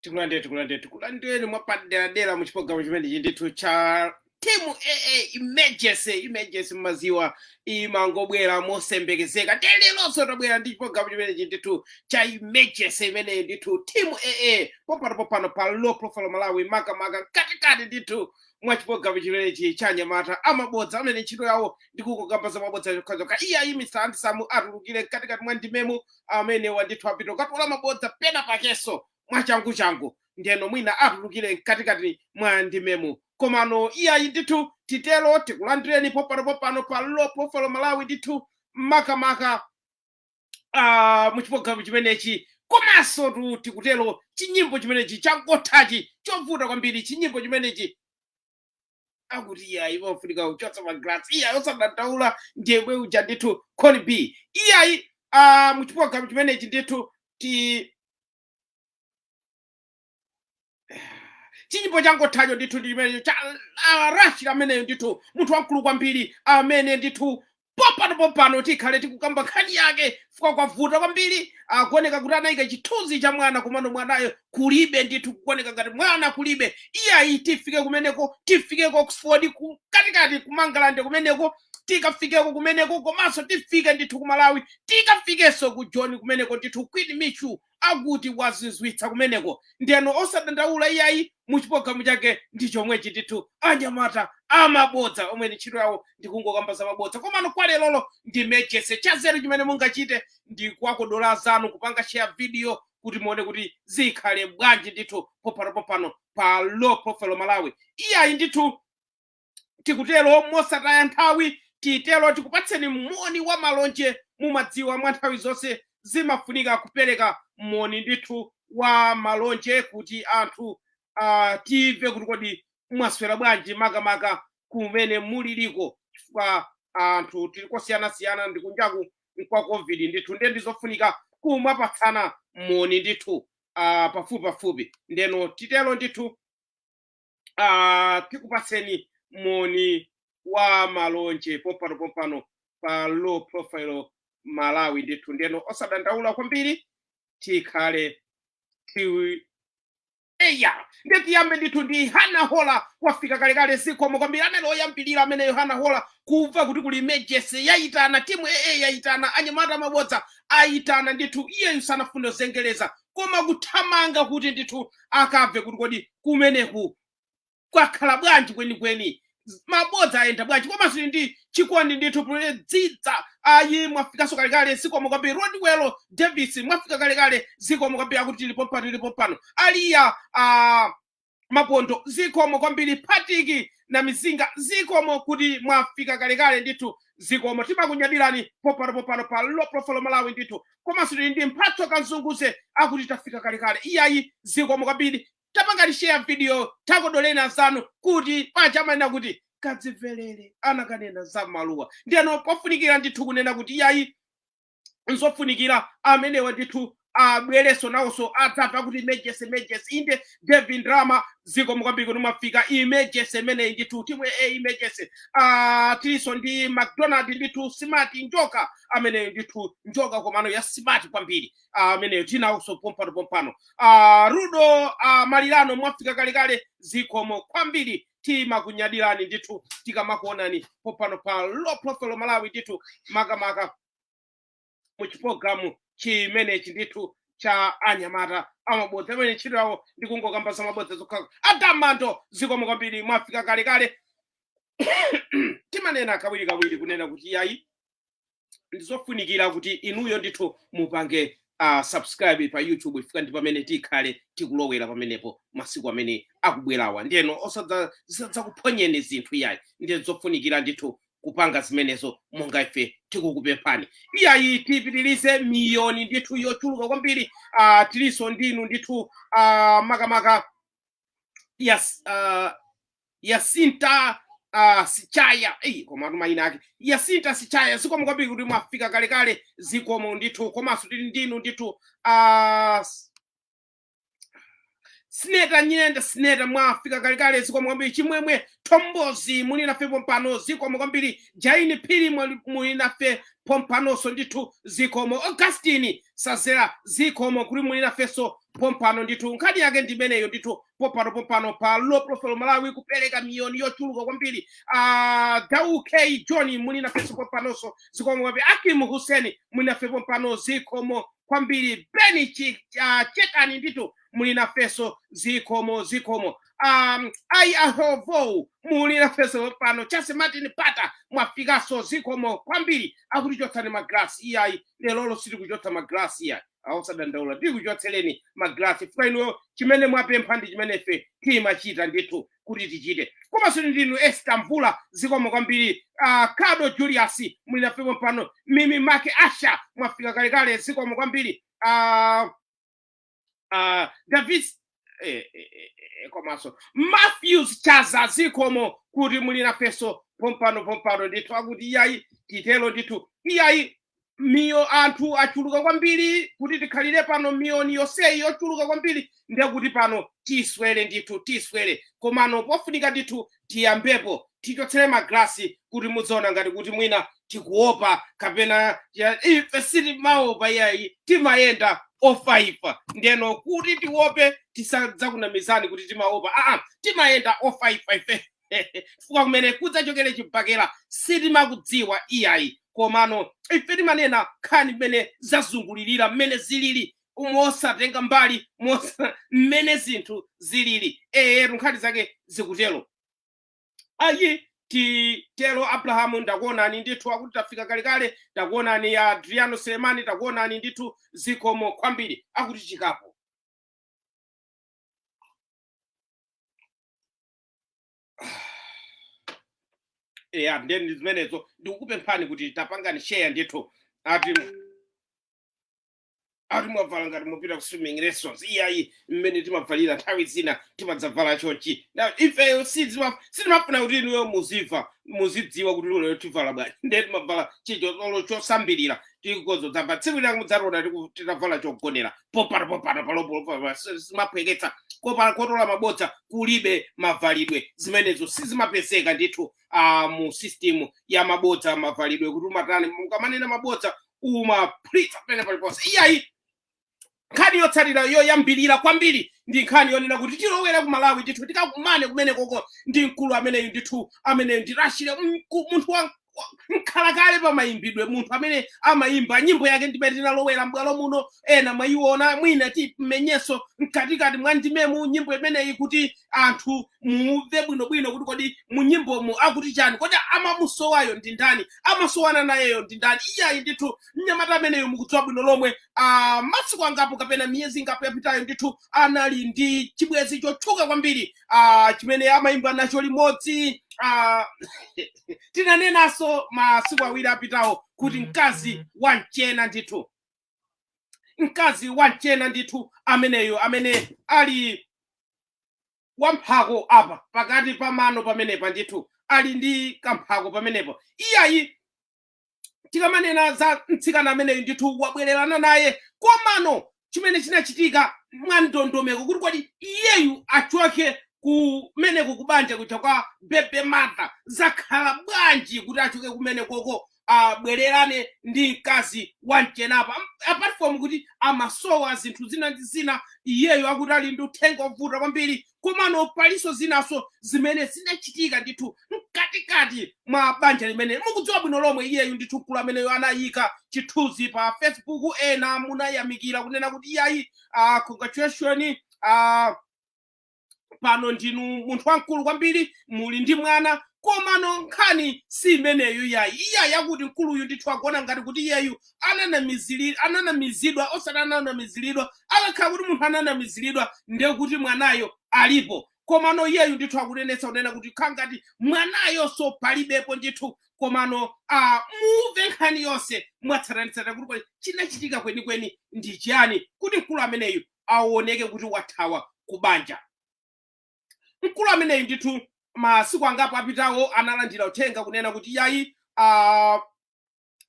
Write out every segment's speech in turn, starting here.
tikulandireni tikulandireni tikulandireni mwapaderadera mu chipologalamu chimenechi ndithu cha timu aa emergency emergency mmaziwa imangobwera mosembekezeka ndiye leronso tabwera ndi chipologalamu chimenechi ndithu cha emergency imeneyi ndithu timu aa pompano pompano pa low profile malawi makamaka mkatikati ndithu mwa chipologalamu chimenechi cha anyamata a mabodza amene ntchito yawo ndi kukamba za mabodza zokhazokha iyayi mr andisamu atulukire mkatikati mwa ndimemu amenewa ndithu apita kukatola mabodza penapakenso mwachanguchangu ndeno mwina atulukire mkatikati mwa ndimemu komano iyayi ndithu titero tikulandireni pompano pompano pa low profile malawi ndithu makamaka ah, mu chipologalamu chimenechi komansotu tikutero chinyimbo chimenechi changothachi chovuta kwambiri chinyimbo chimenechi akuti iyayi imafunika kuchotsa magrasi iyayi osadandaula ndiyemwe uja ndithu coni b iyayi ah, mu chipologalamu chimenechi ndithu ti chinyimbo changothacho ndithu ndi chimenecho cha ah, rashid ameneyo ndithu munthu wamkulu kwambiri amene ndithu pompano pompano tikhale tikukamba nkhani yake fika kwavuta kwambiri kukuoneka kuti anayika chithunzi cha mwana komano mwanayo kulibe ndithu kuoneka ngati mwana kulibe iyayi tifike kumeneko tifike ku oxford ku- mkatikati ku mangalande kumeneko tikafikeko kumeneko komanso tifike ndithu ku malawi tikafikenso ku joni kumeneko ndithu queen michu akuti wadzidzimutsa kumeneko ndeno osadandaula iyayi mu chipologalamu chake ndi chomwechi ndithu anyamata a mabodza omwe ntchito yawo ndi kungokamba za mabodza komano kwa lerolo ndi emergency chanzeru chimene mungachite ndi kuwakodola azanu kupanga share video kuti muone kuti zikhale bwanji ndithu pompanopompano pa low profile malawi iyayi ndithu tikutero mosataya nthawi titero tikupatseni moni wa malonje mumadziwa mwa nthawi zonse zimafunika kupereka moni ndithu wa malonje kuti anthu uh, timve kuti kodi mwaswera bwanji makamaka kumene muliliko chifukwa anthu tili kosiyanasiyana ndi kunjaku nkwa covid ndithu ndiye ndizofunika kumapatsana moni ndithu uh, pafupipafupi ndeno titero ndithu uh, tikupatseni moni wa malonje pompano pompano pa low profile malawi ndithu ndeno osadandaula kwambiri tikhale tiwi eya ndiye tiyambe ndithu ndi hana hola wafika kalekale zikomo kwambiri anali oyambirira ameneyo hana hola kumva kuti kuli emergency yayitana timu aa yayitana anyamata a mabodza ayitana ndithu iyeyu sanafune kuzengereza koma kuthamanga kuti ndithu akabve kuti kodi kumeneku kwakhala bwanji kwenikweni Z- mabodza ayenda bwanji komanso tili ndi chikondi ndithu puledzidza ayi mwafikanso kalekale zikomo kwambiri rodwell davis mwafika kalekale zikomo kwambiri akuti tilipo pano tilipo pano aliya ah, mapondo zikomo kwambiri patiki namizinga zikomo kuti mwafika kalekale ndithu zikomo timakunyadilani popano popano pa low profile malawi ndithu komanso tili ndi mphatso kanzunguze akuti tafika kalekale iyayi zikomo kwambiri tapangani share video takodoleni azanu kuti paja amanena kuti kadzimvelere anakanena za mmaluwa ndiyeno pofunikira ndithu kunena kuti iyayi nzofunikira amenewa ndithu abwerenso nawonso adzatha akuti emergency emergency inde devin drama zikomo kwambiri kuti mwafika emergency imeneyi ndithu timu ya emergency Ah, tilinso ndi mcdonald ndithu smart njoka ameneyo ndithu njoka komano ya smart kwambiri Ah, ameneyo tinawonso pompano pompano Ah, rudo ah, malirano mwafika kalekale zikomo kwambiri timakunyadilani ndithu tikamakuonani popano pa low profile malawi ndithu makamaka mu chipulogalamu chimenechi ndithu cha anyamata amabodza amene ntchito yawo ndi kungokamba za mabodza zokha adam mando zikomo kwambiri mwafika kalekale timanena kawirikawiri kunena kuti iyayi ndizofunikira kuti inuyo ndithu mupange uh, subscribe pa youtube chifukwa ndi pamene tikhale tikulowera pamenepo masiku amene akubwerawa ndiyeno osadza- zisadzakuphonyeni zinthu iyayi ndiye ndizofunikira ndithu kupanga zimenezo monga ife tikukupemphani iyayi tipitirize miyoni ndithu yochuluka kwambiri uh, tilinso ndinu ndithu uh, makamaka yes uh, yasinta uh, sichaya eyi komatu mayina ake yasinta sichaya zikomo kwambiri kuti mwafika kalekale zikomo ndithu komanso tili ndinu ndithu uh, sineta nyenda sineta mwafika kalekale zikomo kwambiri chimwemwe thombozi muli nafe pompano zikomo kwambiri jaini phiri mwali- muli nafe pompanonso ndithu zikomo augustini sazera zikomo kuti muli nafenso pompano ndithu nkhani yake ndi imeneyo ndithu pompano pompano pa low profile malawi kupereka miyoni yochuluka kwambiri uh, dau k john muli nafenso pompanonso zikomo kwambiri akim hussein muli nafe pompano zikomo kwambiri beni Chi- ah, chekani ndithu muli nafenso zikomo zikomo um, ai ahovo muli nafenso pompano chase martin pata mwafikanso zikomo kwambiri akuti chotsani magrasi iyayi lerolo sitikuchotsa magrasi iyayi aa osadandaula tikuchotsereni magrasi chifukwa inuyo chimene mwapempha ndi chimene ife timachita ndithu kuti tichite komanso tili ndi inu esther mvula zikomo kwambiri uh, kado julius muli nafe pompano mimi make asha mwafika kalekale zikomo kwambiri uh, uh, davis eh, eh, eh, eh, komanso matthews chaza zikomo kuti muli nafenso pompano pompano ndithu akuti iyayi titero ndithu iyayi miyo anthu achuluka kwambiri kuti tikhalire pano miliyoni yonseyi yochuluka kwambiri ndekuti pano tiswere ndithu tiswere komano pofunika ndithu tiyambepo tichotsere magrasi kuti mudziona ngati kuti mwina tikuopa kapena ya- ife sitimaopa iyayi timayenda ofaifa ndeno kuti tiope tisadzakunamizani kuti timaopa aa timayenda ofaifa ife chifukwa kumene kudzachokere chibakera sitimakudziwa iyayi komano ife timanena nkhani mmene zazungulirira mmene zilili mosatenga mbali mosa mmene zinthu zilili eyetu nkhani zake zikutero ayi titero abrahamu ndakuonani ndithu akuti tafika kalekale takuonani ya adriano selemani takuonani ndithu zikomo kwambiri akuti chikapo eya nde ndi zimenezo ndikukupemphani kuti tapangani share ndithu ati ati mwavala ngati mupita ku swimming lessons iyayi mmene timavalira nthawi zina timadzavala chonchi na ifeyo sizima- sitimafuna kuti inuyo muziva muzidziwa kuti lero tivala bwanji nde timavala chichotolo chosambilira tikozo dzamba tsiku lina mudzationa tiku- titavala chogonera popano popano palopolopa zimaphweketsa kopala kotola mabodza kulibe mavalidwe zimenezo sizimapezeka ndithu ah, mu system ya mabodza mavalidwe kuti umatani mukamanena mabodza umaphulitsa pamene paliponse iyayi nkhani yotsatira yoyambirira kwambiri ndi nkhani yonena kuti tilowere ku malawi ndithu tikakumane kumenekoko ndi mkulu ameneyu ndithu amene ndi rashley mku- munthu wa wa- mkhalakale pamayimbidwe munthu amene amayimba nyimbo yake ndi imene tinalowera m'bwalo muno ena mwayiona mwina timenyenso mkatikati mwa ndimemu nyimbo imeneyi kuti anthu mumve bwinobwino kuti kodi mu nyimbomu akuti chani kodi amamusowayo ndi ndani amasowana nayeyo ndi ndani iyayi ndithu mnyamata ameneyo mukudziwa bwino lomwe ah, masiku angapo kapena miyezi ingapo yapitayo ndithu anali ndi chibwenzi chotchuka kwambiri ah, chimene amayimba nacho limodzi ah, tinanenanso masiku awiri apitawo kuti mkazi wa mchena ndithu mkazi wa mchena ndithu ameneyo amene ali wamphako apa pakati pa mano pamenepa ndithu ali ndi kamphako pamenepo iyayi tikamanena za mtsikana ameneyu ndithu wabwererana naye komano chimene chinachitika mwa ndondomeko kuti kodi iyeyu achoke kumeneko kubanja kuja kwa baby mother zakhala bwanji kuti achoke kumene koko abwererane ndi mkazi wa mchenapa apart from kuti amasowa zinthu zina ndi zina iyeyo akuti ali ndi uthenga ovuta kwambiri komano palinso zinaso zimene zinachitika ndithu mkatikati mwa banja limene mukudziwa bwino lomwe iyeyu ndithu mkulu ameneyo anayika chithunzi pa facebook ena munayamikira kunena kuti iyayi uh, congratulation uh, pano ndinu munthu wamkulu kwambiri muli ndi mwana komano nkhani si imeneyo yayi iya yakuti mkuluyu ndithu akuona ngati kuti iyeyu ananamizili- ananamizidwa osati ananamiziridwa akakhala kuti munthu ananamiziridwa ndiye kuti mwanayo alipo komano iyeyu ndithu akunenetsa kunena kuti khala ngati mwanayonso palibepo ndithu komano ah, muve nkhani yonse mwatsatanetsatane kuti kodi chinachitika kwenikweni ndi chiyani kuti mkulu ameneyu awoneke kuti wathawa ku banja mkulu ameneyu ndithu masiku angapo apitawo analandira uthenga kunena kuti yayi uh,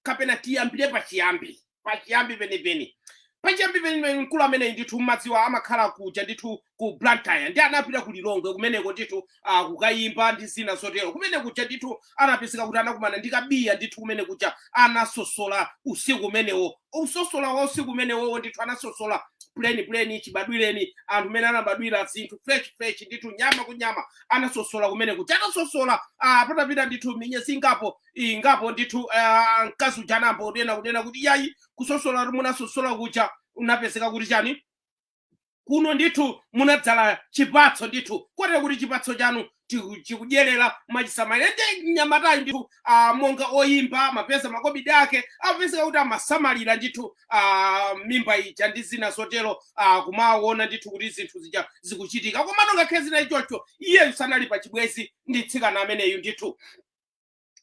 kapena tiyambire pachiyambi pachiyambi penipeni pachiyambi penipeni mkulu ameneyi ndithu mmadziwa amakhala kuja ndithu ku blantyre ndiye anapita ku lilongwe kumeneko ndithu ah, kukayimba ndi zina zotero kumene kuja ndithu anapezeka kuti anakumana ndi kabiya ndithu kumene kuja anasosola usiku umenewo usosola wa usiku umenewowo ndithu anasosola puleni puleni chibadwireni anthu mmene anabadwira zinthu fresh fresh ndithu nyama ku nyama anasosola kumene kuja anasosola ah, patapita ndithu minyezi ingapo ingapo ndithu ah, mkazi uja anamuuza kunena kuti yayi kusosola munasosola kuja unapezeka kuti chani kuno ndithu munadzala chipatso ndithu kotero kuti chipatso chanu tiku- chikudyerera mwachisamalira ndiye mnyamatayu ndithu ah, monga oyimba amapeza makobidi ake amapezeka kuti amasamalira ndithu ah, mimba ija ndi zina zotero ah, kumaona ndithu kuti zinthu zija zikuchitika komano ngakhale zinali choncho iyeyu sanali pa chibwezi ndi mtsikana ameneyu ndithu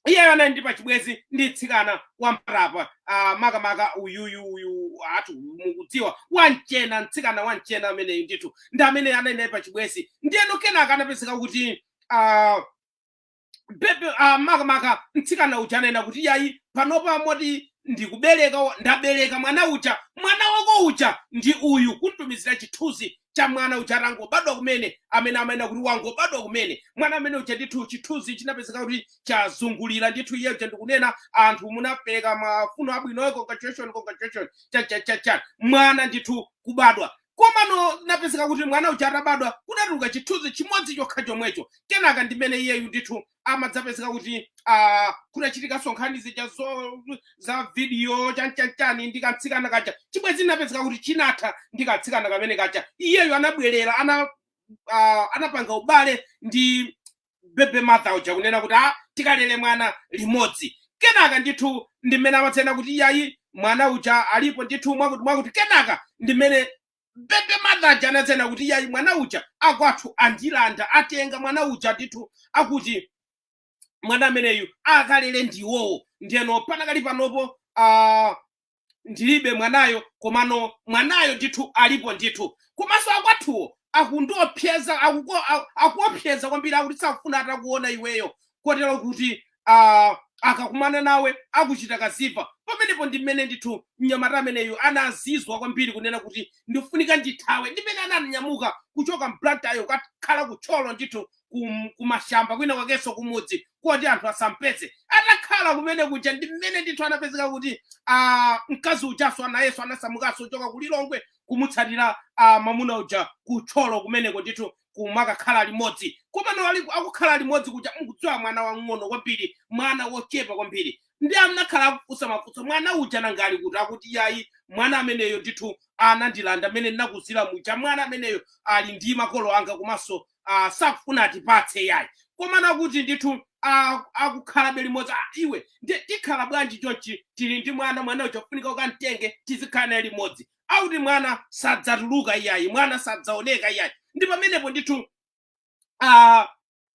iyeyo anali ndi pachibwezi ndi mtsikana wa mpatapa ah, makamaka uyuyu uyu anthu mukudziwa wamchena mtsikana wamchena ameneyu ndithu ndi amene anali naye pachibwezi ndiyeno kenaka anapezeka kuti ah, bebe ah, makamaka mtsikana uja ananena kuti yayi panopa moti ndikubereka wa- ndabereka mwana uja mwana wako uja ndi uyu kumtumizira chithunzi cha mwana uja atangobadwa kumene amene amanena kuti wangobadwa kumene mwana amene uja ndithu chithunzi chinapezeka kuti chazungulira ndithu iye uja ndikunena anthu munapereka mafuno abwinoyo congratulation congratulation chachachacha mwana ndithu kubadwa komano inapezeka kuti mwana uja atabadwa kudatuluka chithunzi chimodzi chokha chomwecho kenaka ndimene iyeyu ndithu amadzapezeka kuti ah, kunachitikanso nkhani zija zo- za vidiyo chanchanchani ndi kamtsikana kaja chibwenzi inapezeka kuti chinatha ndi kamtsikana kamene kaja iyeyo anabwerera ana ah, anapanga ubale ndi baby mother uja kunena kuti ah, tikalere mwana limodzi kenaka ndithu ndimene amadzanena kuti iyayi mwana uja alipo ndithu mwakuti mwakuti kenaka ndimene baby mother uja anadzanena kuti yayi mwana uja akwathu andilanda atenga mwana uja ndithu akuti mwana ameneyu akalere ndiwowo ndiyeno panakali panopo ah, ndilibe mwanayo komano mwanayo ndithu alipo ndithu komanso akwathuwo akundiopseza akuko- a- akuopseza kwambiri akuti sakufuna atakuona iweyo kotero kuti ah, akakumana nawe akuchita kanthu ndiye pamenepo ndi mmene ndithu mnyamata ameneyu anazizwa kwambiri kunena kuti ndifunika ndithawe ndimene ananyamuka kuchoka m'Blantyremo kukakhala ku Thyolo ndithu kum- kumashamba kwina kwakenso kumudzi koti anthu asampeze atakhala kumene kuja ndi mmene ndithu anapezeka kuti ah, mkazi ujanso anayenso anasamukanso kuchoka ku lilongwe kumutsatira ah, mamuna uja ku Thyolo kumeneko ndithu kumakakhala limodzi komano ali akukhala limodzi kuja mukudziwa mwana wang'ono kwambiri mwana wochepa kwambiri ndi anakhala akufunsa mafunso mwana uja nanga ali kuti akuti yayi mwana ameneyo ndithu anandilanda mmene ndinakuuzira muja mwana ameneyo ali ndi makolo anga komanso uh, sakufuna atipatse yayi komano akuti ndithu ah, akukhalabe limodzi ah, iwe ndi- tikhala bwanji chonchi tili ndi mwana mwana uja kufunika ukamtenge tizikhala naye limodzi akuti mwana sadzatuluka iyayi mwana sadzaoneka iyayi ndi pamenepo ndithu uh,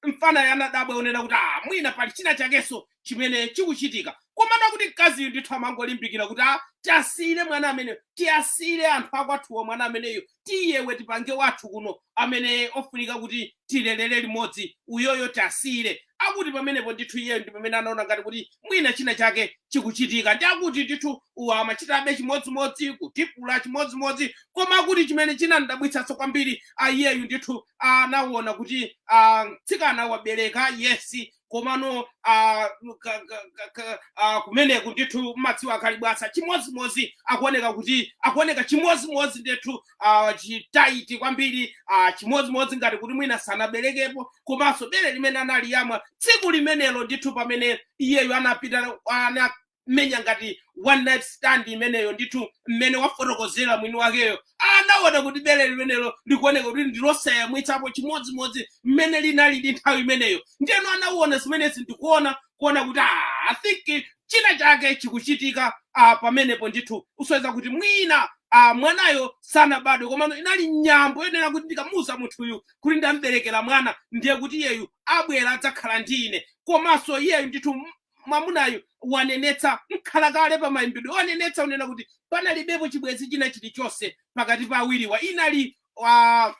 mfanayo anadabwa kunena kuti ah, mwina pali china chakenso chimene chikuchitika koma akuti mkaziyu ndithu amangolimbikira kuti ah, tiwasiyire mwana ameneyo tiwasiyire anthu akwathuwo mwana ameneyo tiye iwe tipange wathu kuno amene ofunika kuti tilelere limodzi uyoyo tiwasiyire akuti pamenepo ndithu iyeyo ndi pamene anaona ngati kuti mwina china chake chikuchitika ndi akuti ndithu uwa amachitabe chimodzimodzi kutibula chimodzimodzi koma akuti chimene chinamdabwitsanso kwambiri iyeyu ndithu anaona kuti ah, mtsikana wabereka yesi komano ah, ka- ka- ka- ka- ah, kumeneku ndithu madziwo akali bwasa chimodzimodzi akuoneka kuti akuoneka chimodzimodzi ndithu ah, chitaiti kwambiri ah, chimodzimodzi ngati kuti mwina sanaberekepo komanso bere limene analiyamwa tsiku limenelo ndithu pamene iyeyo anapita anamenya ngati one night stand imeneyo ndithu mmene wafotokozera mwini wakeyo anaona kuti bere limenelo likuoneka kuti ndilosayamwitsapo chimodzimodzi mmene linalili nthawi imeneyo ndiyeno anaona zimenezi ndikuona kuona kuti "Ah, i think china chake chikuchitika ah, pamenepo ndithu usonyeza kuti mwina ah, mwanayo sanabadwe komano inali nyambo yonena kuti ndikamuuza munthuyu kuti ndamberekera mwana ndiye kuti iyeyu abwera adzakhala ndi ine komanso iyeyu ndithu m- mwamunayu wanenetsa mkhalakale pa mayimbidwe wanenetsa unena kuti panalibepo chibwenzi china chilichonse pakati pa awiriwa inali ah,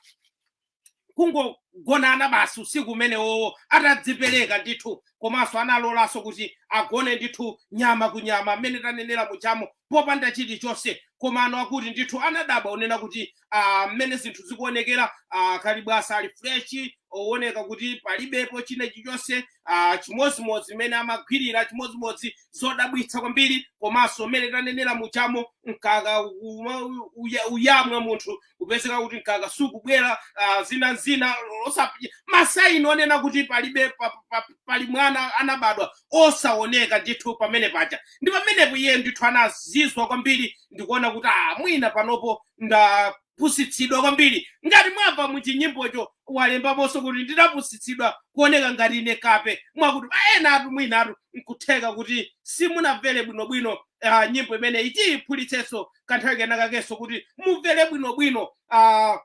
kungogonana basi usiku umenewowo atadzipereka ndithu komanso analolanso kuti agone ndithu nyama ku nyama mmene tanenera mujamo popanda chilichonse komano akuti ndithu anadabwa unena kuti ah, mmene zinthu zikuonekera ah, kalibwasa ali freshi owoneka kuti palibepo china chilichonse ah, chimodzimodzi mmene amagwirira chimodzimodzi zodabwitsa kwambiri komanso mmene tanenera mujamo mkaka uma- uya- uyamwa munthu kupezeka kuti mkaka sukubwera ah, zina zina osa- masaini onena kuti palibe pa- pa- pa- pali mwana anabadwa osaoneka ndithu pamene paja ndi pamenepo iye ndithu anazizwa kwambiri ndikuona kuti ah, mwina panopo ndapusitsidwa kwambiri ngati mwamva muchinyimbocho walembaponso kuti ndinapusitsidwa kuoneka ngati ine kape mwakuti enatu mwinatu nkutheka kuti simunamvere bwinobwino ah, nyimbo imeneyi tiyiphulitsenso kanthawi kena kakenso kuti mumvere bwinobwino uh,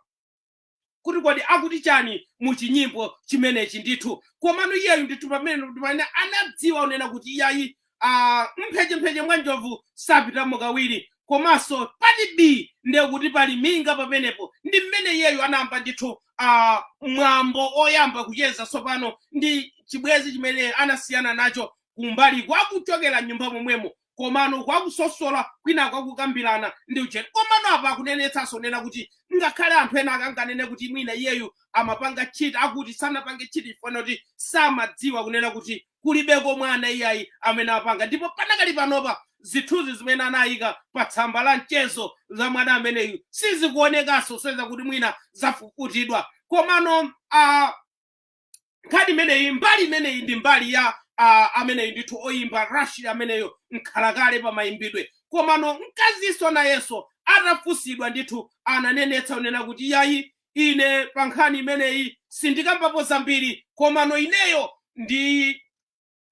kuti kodi akuti chani mu chinyimbo chimenechi ndithu komano iyeyu ndithu pamene pamene anadziwa unena kuti iyayi uh, mphechempheche mwa njovu sapitamo kawiri komanso pati bii ndiye kuti pali minga pamenepo ndi mmene iyeyu anayamba ndithu uh, mwambo oyamba kucheza tsopano ndi chibwezi chimene anasiyana nacho kumbali kwakuchokera m'nyumba momwemo komano kwakusosola kwina kwakukambirana ndi ujeni komano apa akunenetsanso unena kuti ngakhale anthu ena akanganene kuti mwina iyeyu amapanga chiti akuti sanapange chiti chifukwa kuti samadziwa kunena kuti kulibeko mwana iyayi amene apanga ndipo panakali panopa zithunzi zimene anayika pa tsamba la mchezo za mwana ameneyu sizikuonekanso usonyeza kuti mwina zafufutidwa komano a nkhani imeneyi mbali imeneyi ndi mbali ya uh, ameneyi ndithu oyimba rashid ameneyo mkhalakale pa mayimbidwe komano mkazinso nayenso atafunsidwa ndithu ananenetsa unena kuti yayi ine pa nkhani imeneyi sindikambapo zambiri komano ineyo ndi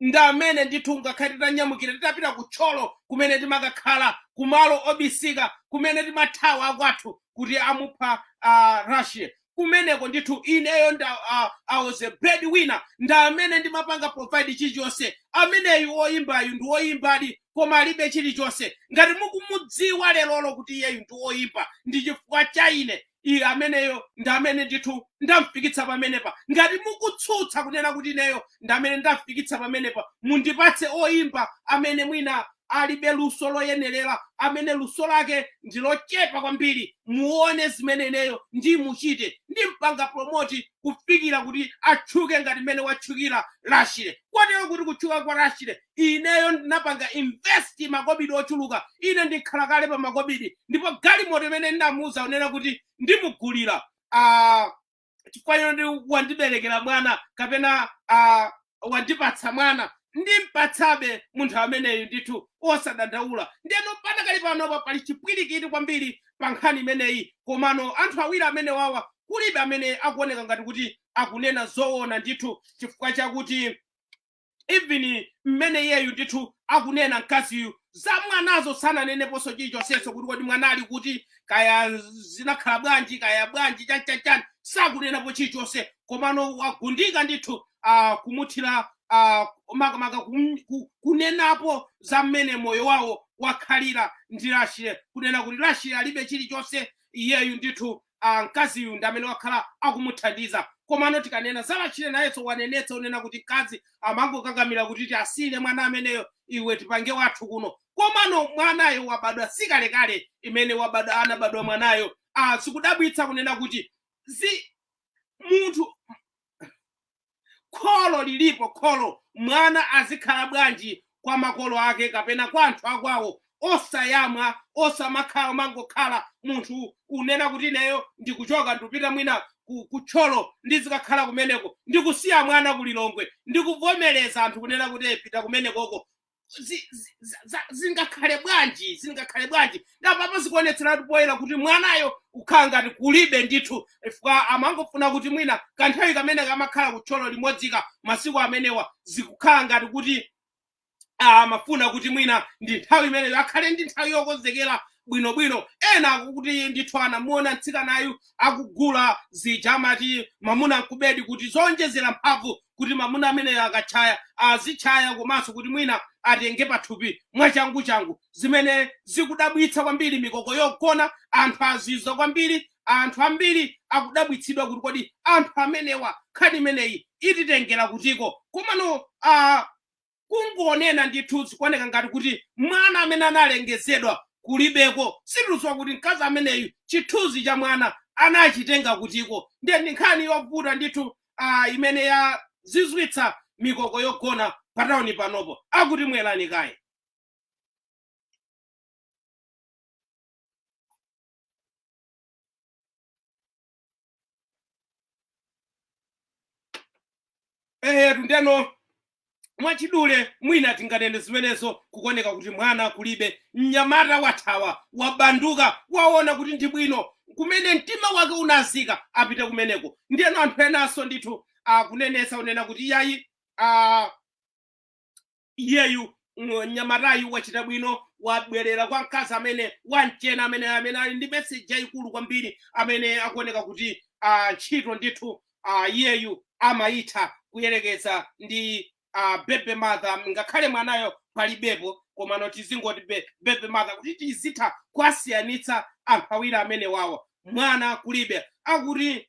ndi amene ndithu ngakhale titanyamukira titapita ku Thyolo kumene timakakhala kumalo obisika kumene timathawa akwathu kuti amupha uh, Rashley kumeneko ndithu ineyo nda uh, I was a bread winner ndi amene ndimapanga provide chilichonse ameneyu oyimbayu ndi oyimbadi koma alibe chilichonse ngati mukumudziwa lerolo kuti iyeyu ndi oyimba ndi chifukwa cha ine iye ameneyo ndi amene ndithu ndamfikitsa pamenepa ngati mukutsutsa kunena kuti ineyo ndi amene ndamfikitsa pamenepa mundipatse oyimba amene mwina alibe luso loyenerera amene luso lake ndi lochepa kwambiri muone zimene ineyo ndimuchite ndimpanga promote kufikira kuti atchuke ngati mmene watchukira Rashley kotero kuti kutchuka kwa Rashley ineyo ndinapanga invest makobidi ochuluka ine ndikhala kale pa makobidi ndipo galimoto imene ndinamuuza unena kuti ndimugulira ah, chifukwa choti wandiberekera mwana kapena ah, wandipatsa mwana ndimpatsabe munthu ameneyu ndithu osadandaula ndeno panakali panopa pali chipwirikiti kwambiri pa nkhani imeneyi komano anthu awiri amenewawa kulibe amene akuoneka ngati kuti akunena zoona ndithu chifukwa chakuti even mmene iyeyu ndithu akunena mkaziyu za mwanazo sananeneponso chilichonsenso kuti kodi mwana ali kuti kaya zinakhala bwanji kaya bwanji chani chani chani sakunenapo chilichonse komano wagundika ndithu uh, kumuthira uh, makamaka kum- ku- kunenapo za mmene moyo wawo wakhalira ndi Rashley kunena kuti Rashley alibe chilichonse iyeyu ndithu ah, mkaziyu ndi amene wakhala akumuthandiza komano tikanena za Rashley nayenso wanenetsa unena kuti mkazi amangokakamira kuti tiwasiyire mwana ameneyo iwe tipange wathu kuno komano mwanayo wabadwa sikalekale imene wabadwa anabadwa mwanayo ah, sikudabwitsa kunena kuti zi munthu kholo lilipo kholo mwana azikhala bwanji kwa makolo ake kapena kwa anthu akwawo osayamwa osamakhala umangokhala munthu unena kuti ineyo ndikuchoka ndikupita mwina ku- ku Thyolo ndizikakhala kumeneko ndikusiya mwana ku Lilongwe ndikuvomereza anthu kunena kuti "Eh, pita kumenekoko zi- zi- za- za- zingakhale bwanji zingakhale bwanji nde apapa zikuonetseratu poyera kuti mwanayo kukhala ngati kulibe ndithu chifukwa amangofuna kuti mwina kanthawi kamene kamakhala ku Thyolo limodzika masiku amenewa zikukhala ngati kuti ah, amafuna kuti mwina ndi nthawi imeneyo akhale ndi nthawi yokonzekera bwinobwino ena akuti ndithu anamuona mtsikanayu akugula zija amati mamuna nkubedi kuti zowonjezera mphamvu kuti mamuna ameneyo akatchaya azitchaya komanso kuti mwina atenge pathupi mwachanguchangu zimene zikudabwitsa kwambiri mikoko yogona anthu azizwa kwambiri, anthu ambiri akudabwitsidwa kuti kodi anthu amenewa nkhani imeneyi ititengera kutiko komano a kungonena ndithu zikuoneka ngati kuti mwana amene analengezedwa kulibeko sitikuziwa kuti mkazi ameneyu chithunzi cha mwana anachitenga kutiko ndiye ndi nkhani yovuta ndithu uh, imene yazizwitsa mikoko yogona patawuni panopo akuti mwerani kaye eyetu ndeno mwachidule mwina tinganene zimenezo kukuoneka kuti mwana kulibe mnyamata wathawa wabanduka waona kuti ndi bwino kumene mtima wake unazika apite kumeneko ndiyeno anthu enanso ndithu akunenesa unena kuti iyayi ah, iyeyu mnyamatayu wachita bwino wabwerera kwa mkazi amene wamchena amene amene ali ndi meseji yayikulu kwambiri amene akuoneka kuti ah, ntchito ndithu ah, iyeyu amayitha kuyerekeza ndi ah, baby mother ngakhale mwanayo palibepo komano tizingoti be- baby mother kuti tizitha kuwasiyanitsa anthu awiri amenewawa mwana kulibe akuti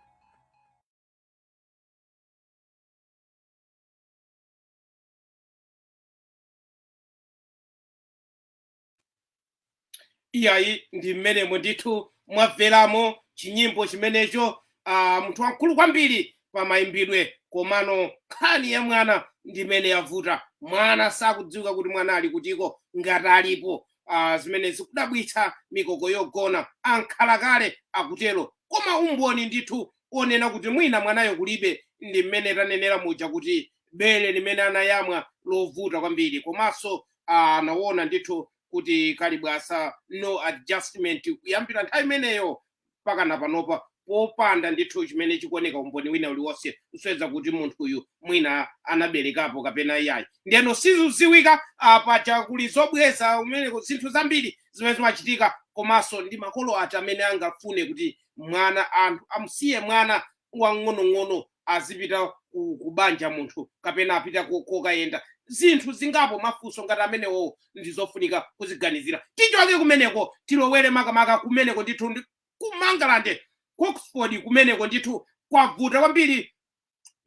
iyayi ndi mmenemo ndithu mwamveramo chinyimbo chimenecho ah, munthu wamkulu kwambiri pa mayimbidwe komano nkhani ya mwana ndi imene yavuta mwana sakudziwika kuti mwana ali kutiko ngati alipo Ah, zimene zikudabwitsa mikoko yogona ankhalakale akutero koma umboni ndithu onena kuti mwina mwanayo kulibe ndi mmene tanenera muja kuti bele limene anayamwa lovuta kwambiri komanso ah, anaona ndithu kuti kalibwasa no adjustment kuyambira nthawi imeneyo mpakana panopa popanda ndithu chimene chikuoneka umboni wina uliwonse kusonyeza kuti munthuyu mwina anaberekapo kapena iyayi ndeno sizidziwika paja kuli zobweza kumeneko zinthu zambiri zimene zimachitika komanso ndi makolo ati amene angafune kuti mwana anthu amusiye mwana wang'onong'ono azipita ku, ku banja munthu kapena apita ko- kokayenda zinthu zingapo mafunso ngati amenewowo ndizofunika kuziganizira tichoke kumeneko tilowere makamaka kumeneko ndithu ndi- ku Mangalande ku Oxford kumeneko ndithu kwavuta kwambiri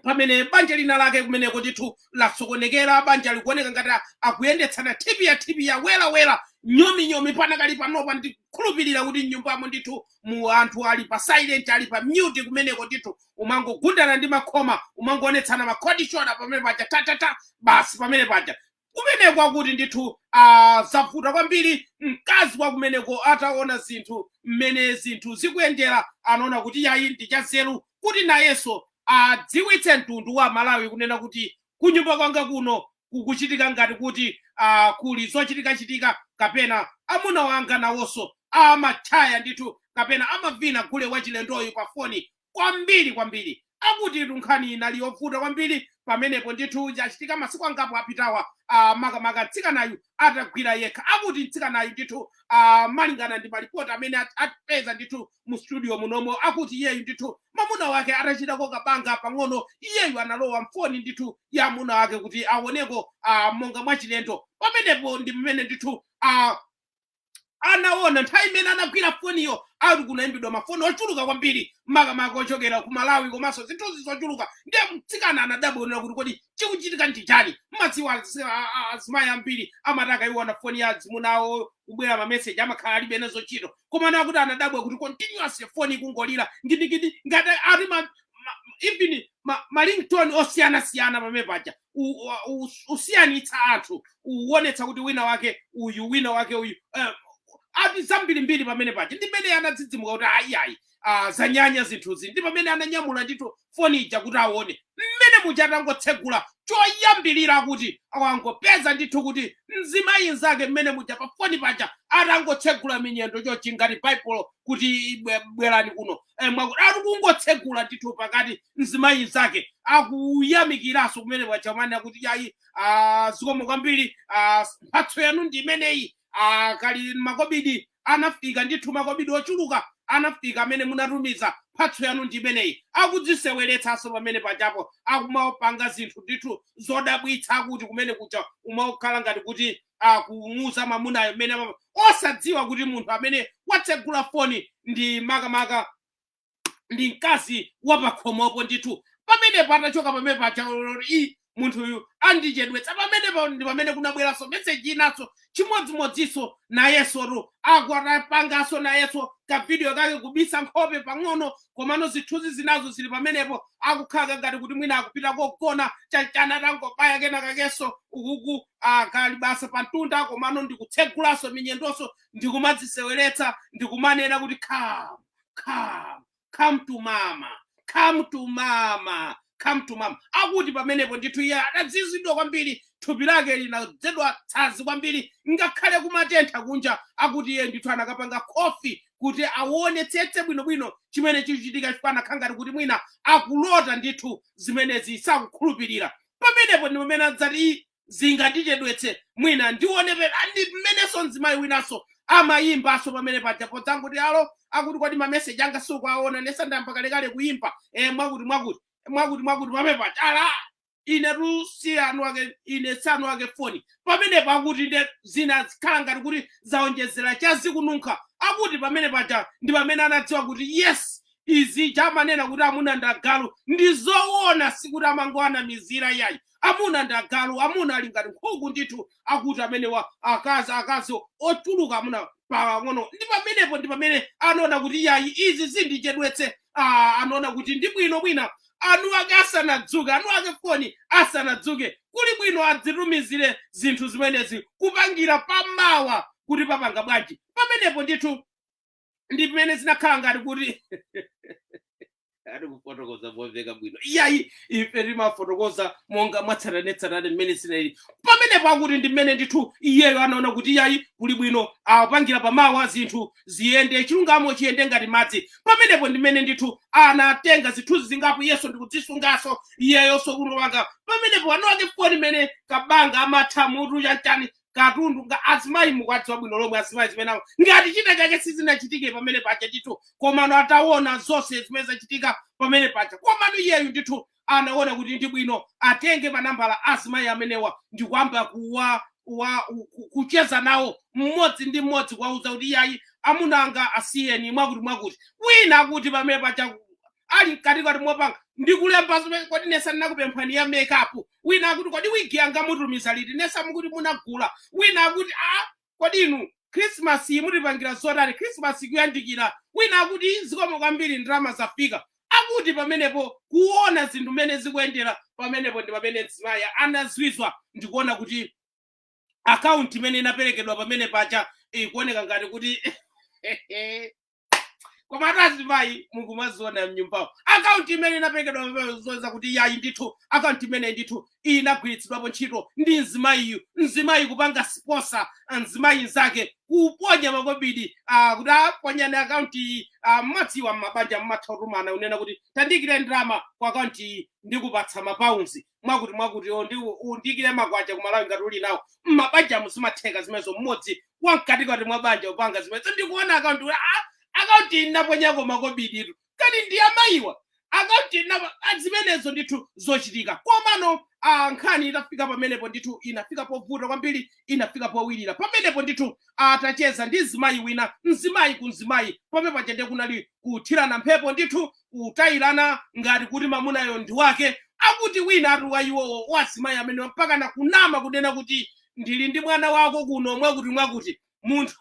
pamene banja lina lake kumeneko ndithu lasokonekera banja likuoneka ngati a- akuyendetsana thipi ya thipi ya welawela nyominyomi panakali panopa ndikhulupirira kuti mnyumbamo ndithu mu anthu ali pa silent ali pa mute kumeneko ndithu umangogundana ndi makhoma umangoonetsana makhodi shona pamene paja tatata basi pamene paja kumeneko akuti ndithu ah, zavuta kwambiri mkazi wa kumeneko ataona zinthu mmene zinthu zikuyendera anaona kuti yayi ndi chanzeru kuti nayenso adziwitse mtundu wa malawi kunena kuti kunyumba kwanga kuno kukuchitika ngati kuti ah, kuli zochitikachitika kapena amuna wanga nawonso amatchaya ndithu kapena amavina gule wachilendoyu pa foni kwambiri kwambiri akuti nkhani inali yovuta kwambiri pamenepo ndithu yachitika masiku angapo apitawa ah, makamaka mtsikanayu atagwira yekha akuti mtsikanayu ndithu ah, malingana ndi malipoti amene at- atipeza ndithu mu studio munomo akuti iyeyu ndithu mamuna wake atachitako kabanga pang'ono iyeyu analowa mfoni ndithu ya amuna wake kuti aoneko ah, monga mwachilendo pamenepo ndi mmene ndithu ah, anaona nthawi imene anagwira foniyo ati kunayimbidwa mafoni ochuluka kwambiri makamaka ochokera ku malawi komanso zinthuzi zochuluka ndiye mtsikana anadabwera kuti kodi chikuchitika ndi chani mmadziwa azi- a- a- azimayi ambiri amati akaiwona foni ya azimunawo kubwera mameseji amakhala alibe nazo ntchito komano akuti anadabwa kuti continuously foni ikungolira ngidingidi ngati ati ma, ma, even ma, ma ringtone osiyanasiyana pamene paja u- u- u- usiyanitsa anthu uwonetsa kuti wina wake uyu wina wake uyu eh, ati zambirimbiri pamene paja ndi mmene anadzidzimuka kuti ayiayi ah, zanyanya zinthuzi ndi pamene ananyamula ndithu foni ija kuti aone mmene muja atangotsegula choyambirira akuti anangopeza ndithu kuti mzimayi nzake mmene muja pa foni paja atangotsegula minyendo chochi ngati baibulo kuti bwe- bwerani kuno Eh, mwakuti ati kungotsegula ndithu pakati mzimayi nzake akuyamikiranso kumene paja kumanena kuti yayi ah, zikomo kwambiri ah, mphatso yanu ndi imeneyi ah, akuti makobidi anafika ndithu makobidi ochuluka anafika amene munatumiza mphatso yanu ndi imeneyi akudziseweretsanso pamene pajapo akumapanga zinthu ndithu zodabwitsa akuti kumene kuja umakhala ngati kuti akumuuza mamunayo mmene amapa- osadziwa kuti munthu amene watsegula foni ndi makamaka ndi mkazi wapakhomopo ndithu pamenepa atachoka pamene paja olo iiii munthuyu andichedwetsa pamene pa- ndi pamene kunabweranso meseji inanso chimodzimodzinso nayenso ru akuti atapanganso nayenso kavidiyo kake kubisa nkhope pang'ono komano zithunzi zinazo zili pamenepo akukhala ngati kuti mwina akupita kogona chanichani atangovala kena kakenso ukuku akalibasa pamtunda komano ndikutsegulanso minyendonso ndikumadziseweretsa ndikumanena kuti khamu come come to mama come to mama come to mama akuti pamenepo ndithu iye adazizidwa kwambiri thupi lake linadzedwa tsazi kwambiri ngakhale kumatentha kunja akuti iye ndithu anakapanga kofi kuti awonetsetse bwinobwino chimene chikuchitika chifukwa anakhala ngati kuti mwina akulota ndithu zimenezi sakukhulupirira pamenepo ndi pamene adzati zingandichedwetse mwina ndionepera ndi mmenenso mzimayi winanso amayimbanso pamene paja podzangoti alo akuti kodi mameseji anga sukuwaona nesa ndayamba kalekale kuyimba eh, mwakuti mwakuti mwakuti mwakuti pamene paja ala inetu si anu ake ine si anu ake foni pamenepo akuti nde zina zikhala ngati kuti zaonjezera chazikununkha akuti pamene paja ndi pamene anadziwa kuti yes izi chamanena kuti amuna ndagalu ndi zoona sikuti amangoanamizira yayi amuna ndi agalu amuna ali ngati nkhuku ndithu akuti amenewa akazi akazi ochuluka amuna pang'ono ndi pamenepo ndi pamene anaona kuti yayi izi zindichedwetse ah, anaona kuti ndi bwino mwina anu ake asanadzuke anu ake foni asanadzuke kuli bwino adzitumizire zinthu zimenezi kupangira pamawa kuti papanga bwanji pamenepo ndithu ndi pamene zinakhala ngati kuti ati kufotokoza momveka bwino iyayi ife timafotokoza monga mwatsatanetsatane mmene zinali pamenepo akuti ndi mmene ndithu iyeyo anaona kuti iyayi kuli bwino apangire pamawa zinthu ziyende chilungamo chiyende ngati madzi pamenepo ndi mmene ndithu anatenga zithunzi zingapo iyenso ndikudzisunganso iyeyonso kuno wanga pamenepo anu ake foni imene kabanga amatha mutu chachani katundu nga azimayi mukuwadziwa bwino lomwe azimayi zimene awo ngati china chake sizinachitike pamene paja ndithu komano ataona zonse zimene zachitika pamene paja komano iyeyu ndithu anaona kuti ndi bwino atenge manambala azimayi amenewa ndikuyamba kuwa wa ku- kucheza nawo mmodzi ndi mmodzi kuwauza kuti iyayi amuna anga asiyeni mwakuti mwakuti wina akuti pamene paja ali mkatikati mopanga ndikulemba zimene kodi nesa ndinakupemphani ya makeup wina akuti kodi wigi yanga mutumiza liti nesa mukuti munagula wina akuti a kodi inu krismasi iyi mutipangira zotani krismasi ikuyandikira wina akuti zikomo kwambiri ndalama zafika akuti pamenepo kuona zinthu mmene zikuyendera pamenepo ndi pamene mzimayi anazizwa ndikuona kuti akaunti imene inaperekedwa pamene paja ikuoneka ngati kuti koma ati azimayi mukumaziona mnyumbawo akaunti imene inaperekedwa pamene zosonyeza kuti yayi ndithu akaunti imeneyi ndithu inagwiritsidwapo ntchito ndi mzimayiyu mzimayi kupanga sponsor mzimayi nzake kuponya makobidi ah, kuti aponyani akaunti iyi ah, mmadziwa mmabanja mmatha kutumana kunena kuti tandiikire ndalama ku akaunti iyi ndikupatsa mapaundi mwakuti mwakuti o ndi undikire makwacha ku Malawi ngati uli nawo mmabanjamu zimatheka zimenezo mmodzi wamkatikati mwa banja kupanga zimenezo ndikuona akaunti kuti, "Ah, akaunti inaponyako makobiditu kwa amayiwa akaunti inapa ah, zimenezo ndithu zochitika komano ah, nkhani itafika pamenepo ndithu inafika povuta kwambiri inafika powirira pamenepo ndithu atacheza ndi mzimayi wina mzimayi ku mzimayi pamene paja ndiye kunali kuthirana mphepo ndithu kutayirana ngati kuti mamunayo ndi wake akuti wina ati wa iwowo wazimayi amenewa mpaka na kunama kunena kuti ndili ndi mwana wako kuno mwakuti mwakuti munthu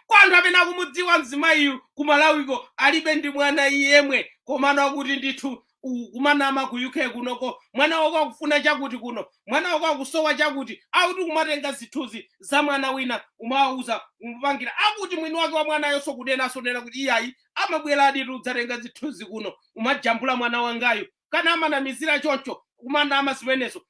kwa anthu amene akumudziwa mzimayiyu ku Malawiko alibe ndi mwana yemwe komano akuti ndithu ku- kumanama ku UK kunoko mwana wako akufuna chakuti kuno mwana wako akusowa chakuti akuti kumatenga zithunzi za mwana wina umawauza kumupangira akuti mwini wake wa mwanayonso kunenanso kunena kuti iyayi amabwera aditu kudzatenga zithunzi kuno kumajambula mwana wangayu kani amanamizira choncho kumanama zimenezo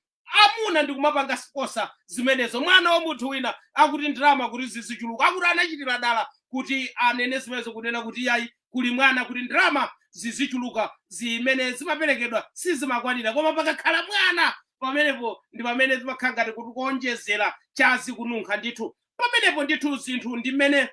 amuna ndi kumapanga sponsor zimenezo mwana wa munthu wina akuti ndalama kuti zizichuluka akuti anachitira dala kuti anene zimenezo kunena kuti iyayi kuli mwana kuti ndalama zizichuluka zimene zimaperekedwa sizimakwanira koma pakakhala mwana pamenepo ndi pamene zimakhala ngati kuti kuonjezera cha zikununkha ndithu pamenepo ndithu zinthu ndi mmene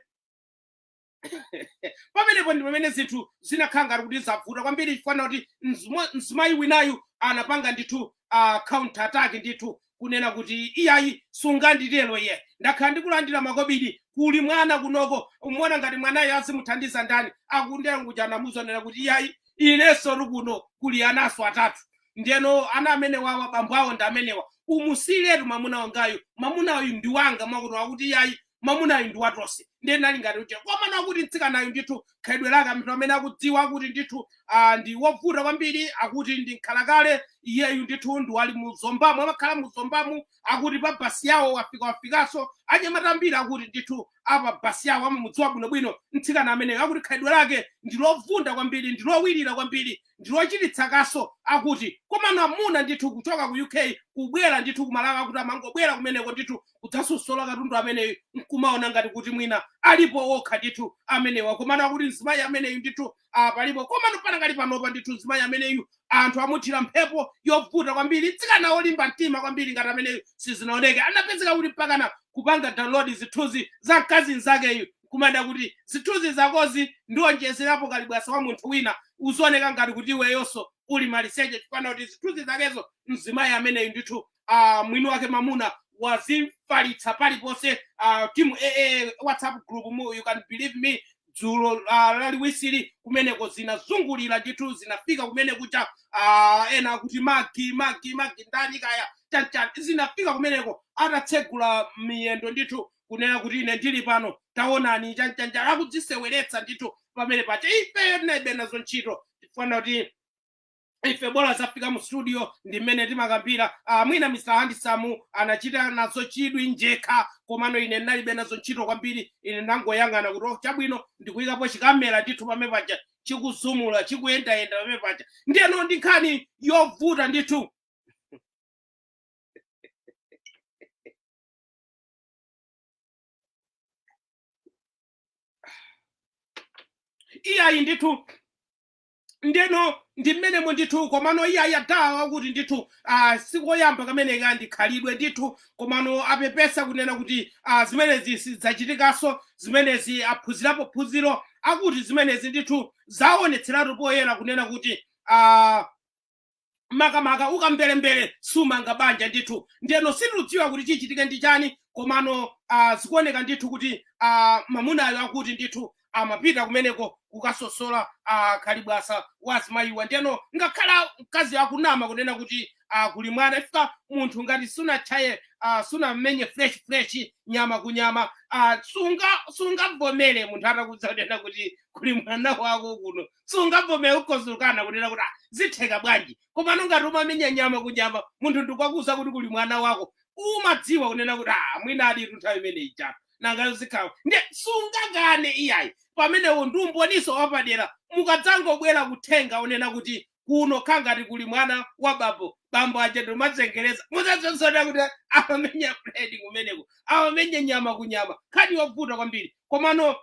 pamenepo ndi pamene zinthu zinakhala ngati kuti zavuta kwambiri chifukwa kuti mzimo- mzimayi winayu anapanga ndithu uh, counter attack ndithu kunena kuti iyayi sunganditero iye ndakhala ndikulandira makobidi kuli mwana kunoko umona ngati mwanayo azimuthandiza ndani akuti ndiye akuti anamuuza kunena kuti iyayi inensotu kuno kuli anaso atatu ndeno ana amenewawa bambo awo ndi amenewa umusiyiretu mwamuna wangayu mwamuna uyu ndi wanga mwakuti akuti iyayi mwamunayu ndi watonse ndiye ndinali ngati kuti komano akuti mtsikanayu ndithu khalidwe lake anthu amene akudziwa akuti ndithu ah, ndi wovunda kwambiri akuti ndi nkhalakale iyeyu ndithu ndi wali mu Zombamu amakhala mu Zombamu akuti pa basi yawo wafika wafikanso anyamata ambiri akuti ndithu apa basi yawo amamudziwa bwinobwino mtsikana ameneyo akuti khalidwe lake ndi lovunda kwambiri ndi lowirira kwambiri ndi lochititsa kaso akuti komano amuna ndithu kuchoka ku UK kubwera ndithu ku Malawi akuti amangobwera kumeneko ndithu kudzasosola katundu ameneyu nkumaona ngati kuti mwina alipo okha ndithu amenewa komano akuti mzimayi ameneyu ndithu ah, palipo komano panakali panopa ndithu mzimayi ameneyu anthu amuthira mphepo yovuta kwambiri mtsikana wolimba mtima kwambiri ngati ameneyu sizinaoneke anapezeka kuti mpakana kupanga download zithunzi za mkazi mnzakeyu kumanena kuti zithunzi zakozi ndionjezerapo kalibwasa wa munthu wina uzioneka ngati kuti iweyonso uli maliseche chifana kuti zithunzi zakezo mzimayi ameneyu ndithu uh, mwini wake mamuna wazifalitsa paliponse uh, timu aa whatsapp group mu you can believe me dzulo uh, laliwisili kumeneko zinazungulira ndithu zinafika kumene kuja uh, ena akuti magi magi magi ndani kaya chanchani zinafika kumeneko atatsegula miyendo ndithu kunena kuti ine ndili pano taonani chanchanja akudziseweretsa ndithu pamene paja ifeyo tinalibe nazo ntchito tifuna kuti ife bola zafika mu studio ndi mmene timakambira ah, mwina mr handisamu anachita nazo chidwi njekha komano ine ndinalibe nazo ntchito kwambiri ine ndangoyang'ana kuti oh, chabwino ndikuyikapo chikamera ndithu pamene paja chikuzumula chikuyendayenda pamene paja ndiyeno ndi nkhani yovuta ndithu iyayi ndithu ndeno ndi mmenemo ndithu komano iye akuti ndithu ah, sikoyamba kameneka ndi khalidwe ndithu komano apepesa kunena kuti ah, zimenezi sidzachitikanso zimenezi aphunzirapo phunziro akuti zimenezi ndithu zaonetseratu poyera kunena kuti ah, makamaka ukamberembere simanga banja ndithu ndeno sitikudziwa kuti chichitike ndi chani komano ah, zikuoneka ndithu kuti ah, mamunayo akuti ndithu amapita kumeneko kukasosola ah, kalibwasa wa azimayiwa ndeno nangakhala mkazi akunama kunena kuti ah, kuli mwana ifika munthu ngati sunachaye ah, sunamenye fresh fresh nyama kunyama ah, sunga sungavomere munthu atakuuza kunena kuti kuli mwana wako kuno sungavomere ukozukana kunena kuti "Ah, zitheka bwanji komano ngati umamenya nyama kunyama munthu ndikukuuza kuti kuli mwana wako umadziwa kunena kuti "Ah, mwina ali tu nthawi imene ija nangayo zikhawa nde sungakane iyayi pamenepo ndi umboniso wapadera mukadzangobwera kuthenga unena kuti kuno khangati kuli mwana wa bambo bambo aja ndimazengereza mudzazionera kuti amamenya buledi kumeneko amamenya nyama kunyama nkhani yovuta kwambiri komano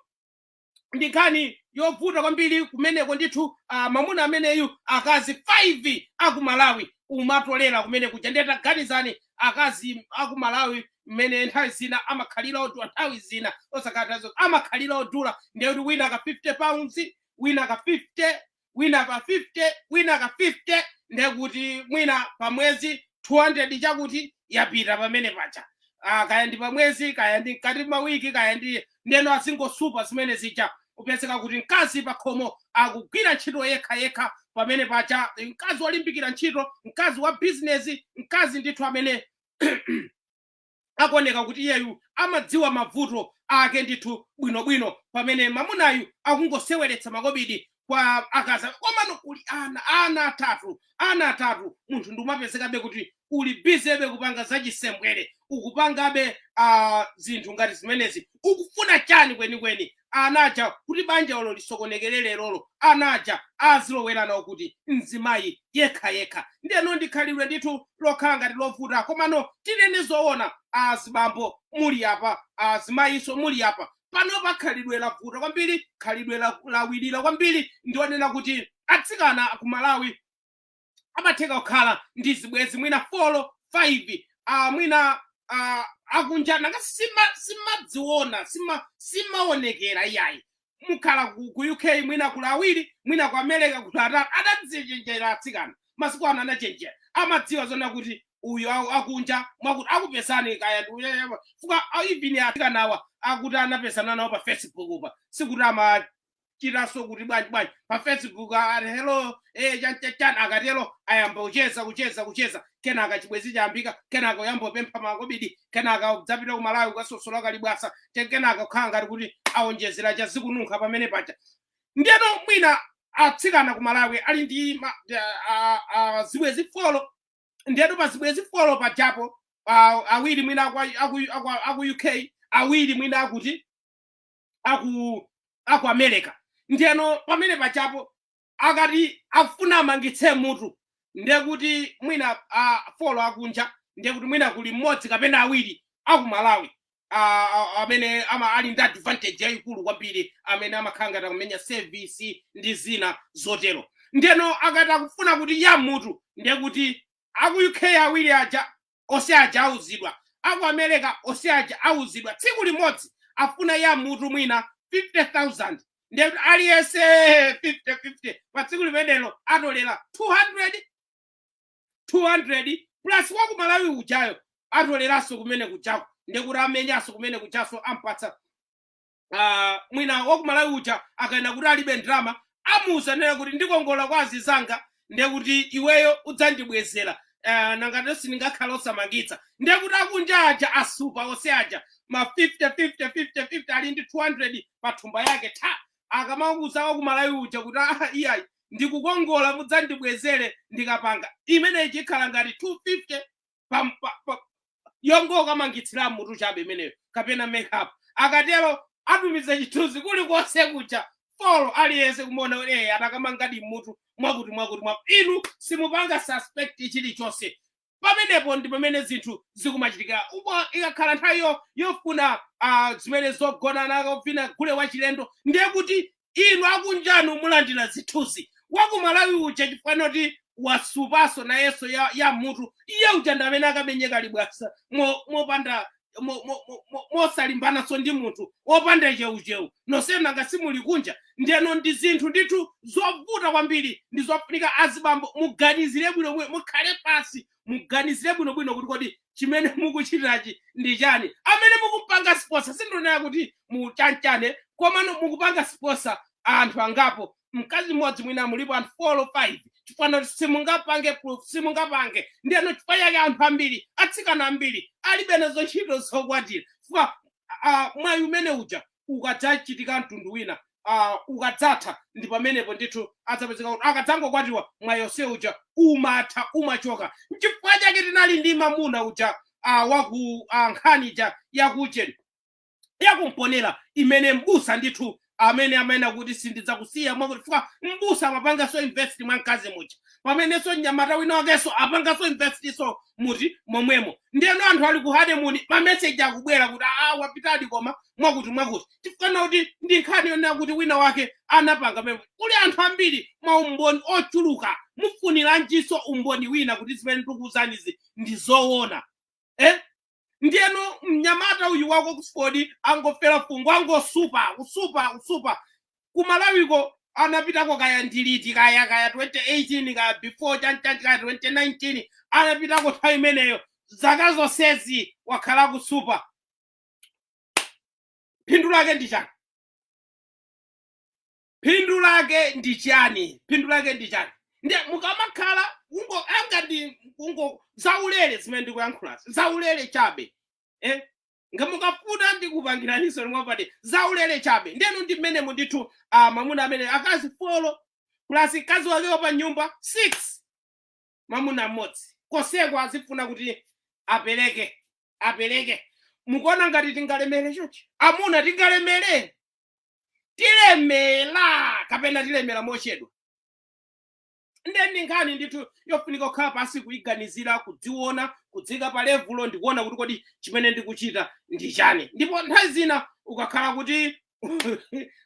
ndi nkhani yovuta kwambiri kumeneko ndithu uh, mamuna ameneyu akazi 5 aku malawi umatolera kumene kuja ndiye taganizani akazi aku malawi mmene nthawi zina amakhalira odula nthawi zina osakatazo amakhalira odula ndiye kuti wina ka 50 pounds wina ka 50 wina ka 50 wina ka 50 ndekuti mwina pamwezi 200 chakuti yapita pamene paja ah, kaya ndi pamwezi kaya ndi mkati mawiki kaya ndi ndeno azingosupa zimene zija kupezeka kuti mkazi pakhomo akugwira ntchito yekha yekha pamene paja mkazi wolimbikira ntchito mkazi wa bizinesi mkazi ndithu amene akuoneka kuti iyeyu amadziwa mavuto ake ndithu bwinobwino pamene mamunayu akungoseweretsa makobidi kwa akazi komano uli ana ana atatu ana atatu munthu ndikumapezekabe kuti uli bizebe kupanga zachisembwere ukupangabe uh, zinthu ngati zimenezi ukufuna chani kwenikweni ana aja kuti banja olo lisokonekere lerolo ana aja azilowera nawo kuti mzimayi yekha yekha ndeno ndikhalidwe ndithu lokhala ngati lovuta komano tinene zoona azibambo muli apa azimayinso muli apa panopa khalidwe lavuta kwambiri khalidwe la- lawirira kwambiri ndi onena kuti atsikana ku malawi amatheka kukhala ndi zibwezi mwina folo 5 uh, mwina uh, akunja nanga sima simadziona sima simaonekera iyayi mukhala ku, ku uk mwina kuli awiri mwina ku america kuli atatu adadzichenjera atsikana masiku ano anachenjera amadziwa zonena kuti uyu aku- akunja mwakuti akupezani kaya ndi uyu- uyu- fuka even atsikanawa akuti anapezana nawo pa facebookpa sikuti ama chitanso kuti bwanji bwanji pa facebook ati hello eh chanchan akatero ayamba kucheza kucheza kucheza kenaka chibwezi chayambika kenaka uyamba upempha makobidi kenaka udzapita ku malawi ukasasula kaliwasa te- kenaka kukhala ngati kuti awonjezera chazikununkha pamene paja ndiyeno mwina atsikana ku malawi ali ndi ma- a- a- a- zibwezi folo ndiyeno pa zibwezi folo pajapo ah, awiri mwina aku- aku- aku- aku uk awiri mwina akuti aku aku america ndiyeno pamene pajapo akati akufuna amangitse mutu ndiye kuti mwina uh, folo akunja ndiye kuti mwina kuli mmodzi kapena awiri aku malawi ah, ah, amene ama ali ndi advantage yayikulu kwambiri amene amakhala ngati akumenya service ndi zina zotero ndeno akati akufuna kuti ya mutu ndiye kuti aku uk awiri aja Onse aja auzidwa. Aku Amerika onse aja auzidwa. Tsiku limodzi afuna ya mutu mwina 50,000. Ndiye kuti aliyense 50 50 pa tsiku limenelo atolera 200 200 plus wa ku Malawi ujayo atoleranso kumene kujako. Ndiye kuti amenyanso kumene kujanso ampatsa ah, mwina wakumalawi uja akanena kuti alibe ndalama amuuza nena kuti ndikongola kwa azizanga ndiye kuti iweyo udzandibwezera ah, nangatu sindingakhale osamangitsa ndiye kuti akunja aja asupa onse aja ma 50 50 50 50 ali ndi 200 pa thumba yake ta akamakuza wakumalawi uja kuti "Ah, iyayi ndikukongola mudzandibwezere ndikapanga imeneyi ikhala ngati 250 pam- pa- pa- yongokamangitsira mutu chabe imeneyo kapena makeup akatero atumiza chithunzi kulikonse kuja folo aliyense kumaona kuti eh anakamangadi mutu mwakuti mwakuti mwakuti inu simupanga suspect chilichonse pamenepo ndi pamene zinthu zikumachitikira upo ikakhala nthawi yo- yofuna ah, zimene zogonana kuvina gule wachilendo ndiye kuti inu akunjanu mulandira zithunzi wakumalawi uja chifukwa choti wasupanso nayenso ya, ya mutu iye uja ndi amene akamenye kalibwasa mo- mopanda mo- mo- mo- mo- mosalimbananso ndi munthu wopanda cheucheu nonse nanga simuli kunja ndiyeno ndi zinthu ndithu zovuta kwambiri ndi zofunika azibambo muganizire bwino mwe- mukhale pansi muganizire bwinobwino kuti kodi chimene mukuchitirachi ndi chani amene mukupanga sponsor sindikunena kuti muchanichani komano mukupanga sponsor anthu angapo mkazi mmodzi mwina mulipo anthu 4 or 5 chifukwa simungapange proof simungapange ndiyeno chifukwa chake anthu ambiri atsikana ambiri alibe nazo ntchito zokwatira chifukwa ah, mwayi umene uja ukadzachitika mtundu wina uh, ukadzatha ndi pamenepo ndithu adzapezeka kuti akadzangokwatiwa mwayi wonse uja umatha umachoka nchifukwa chake tinali ndi mamuna uja uh, waku uh, nkhani ija yakucheni yakumponera imene mbusa ndithu amene amanena kuti sindidzakusiya mwakuti chifukwa mbusa amapanganso invest mwa mkazi muja pamenenso mnyamata wina wakenso apanganso invest-nso muti momwemo ndiyeno anthu ali ku honeymoon mameseji akubwera kuti aa wapitadi koma mwakuti mwakuti chifukana kuti ndi nkhani yonena kuti wina wake anapanga pemwe kuli anthu ambiri mwa umboni ochuluka mufuniranjinso umboni wina kuti zimene ndikukuuzanizi ndi zoona eh? ndiyeno mnyamata uyu waku Oxford angofera fungo angosupa kusupa kusupa kumalawiko anapitako kaya ndiliti kaya kaya 2018 kaya before chanchani kaya 2019 anapitako nthawi imeneyo zaka zonsezi wakhala kusupa phindu lake ndi chani phindu lake ndi chani phindu lake ndi chani ndiye mukamakhala ungo anga ndi ungo zaulere zimene ndikuyankhulazi zaulere chabe eh? nga mukafuna ndikupangiraninso mwapadera zaulere chabe ndiyeno ndi mmenemo ndithu ah, mamuna amene akazi folo plus mkazi wake wa pa nyumba 6 mamuna mmodzi konseko azifuna kuti apereke apereke mukuona ngati tingalemere chochi amuna tingalemere tilemera kapena tilemera mochedwa nde ndi nkhani ndithu yofunika kukhala pansi kuyiganizira kudziona kudziika pa levulo ndikuona kuti kodi chimene ndikuchita ndi chani ndipo nthawi zina ukakhala kuti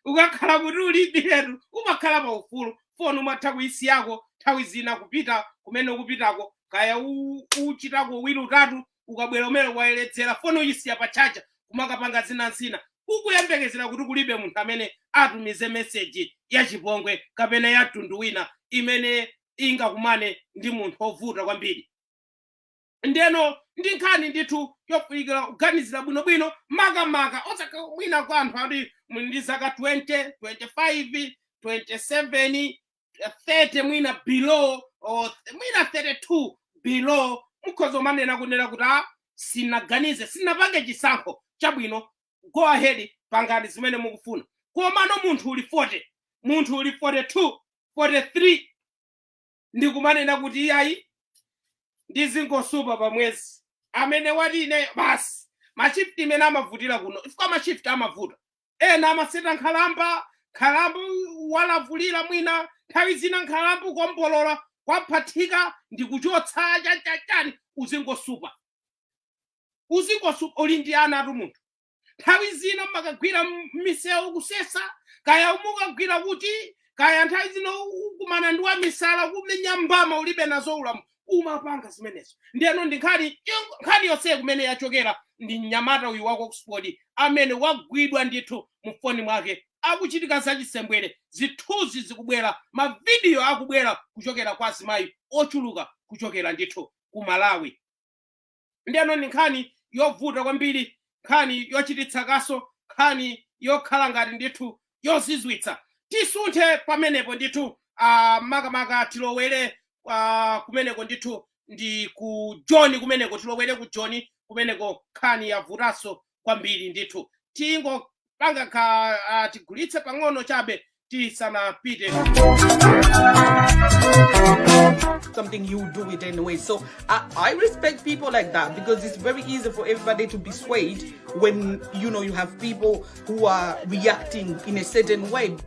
ukakhala kuti ulibiretu umakhala pa ufulu foni umatha kuyisiyako nthawi zina kupita kumene ukupitako kaya u- uchitako wiri utatu ukabwera umene wayeredzera foni uyisiya pa chaja kumakapanga zina zina ukuyembekezera kuti kulibe munthu amene atumize meseji ya chipongwe kapena ya mtundu wina imene ingakumane ndi munthu wovuta kwambiri ndeno ndi nkhani ndithu yofunikira kuganizira bwinobwino makamaka osakamba mwina kwa anthu ati muli ndi zaka 20 25 27 eh, 30 mwina below or th- mwina 32 below mukhoza umanena kunena kuti a sinaganize sinapange chisankho chabwino go ahead pangani zimene mukufuna komano munthu uli 40 munthu uli 42 43 ndi kumanena kuti iyayi ndizingosupa pa mwezi amene wati ine basi mashifti imene amavutira kuno ifika mashifti amavuta ena amaseta nkhalamba nkhalamba walavulira mwina nthawi zina nkhalamba kuombolola kwaphathika ndi kuchotsa chachachani uzingosupa uzingosupa uli ndi anatu munthu nthawi zina umakagwira misewu kusesa kaya umukagwira kuti kaya nthawi zina ukumana ndi wamisala kumenya mbama ulibe nazo ulamu kumapanga zimenezo ndeno ndi nkhani nkhani yonse kumene yachokera ndi mnyamata uyu wa ku oxford amene wagwidwa ndithu mufoni mwake akuchitika zachisembwere zithunzi zikubwera mavidiyo akubwera kuchokera kwa azimayi ochuluka kuchokera ndithu ku malawi ndiyeno ndi nkhani yovuta kwambiri nkhani yochititsa kaso nkhani yokhala ngati ndithu yozizwitsa tisunthe pamenepo ndithu uh, makamaka tilowere uh, kumeneko ndithu ndi ku joni kumeneko tilowere ku joni kumeneko nkhani yavutanso kwambiri ndithu tingopanga ka ah, tigulitse pang'ono chabe tisanapite something you do it anyway. So I, I respect people like that because it's very easy for everybody to be swayed when you know you have people who are reacting in a certain way.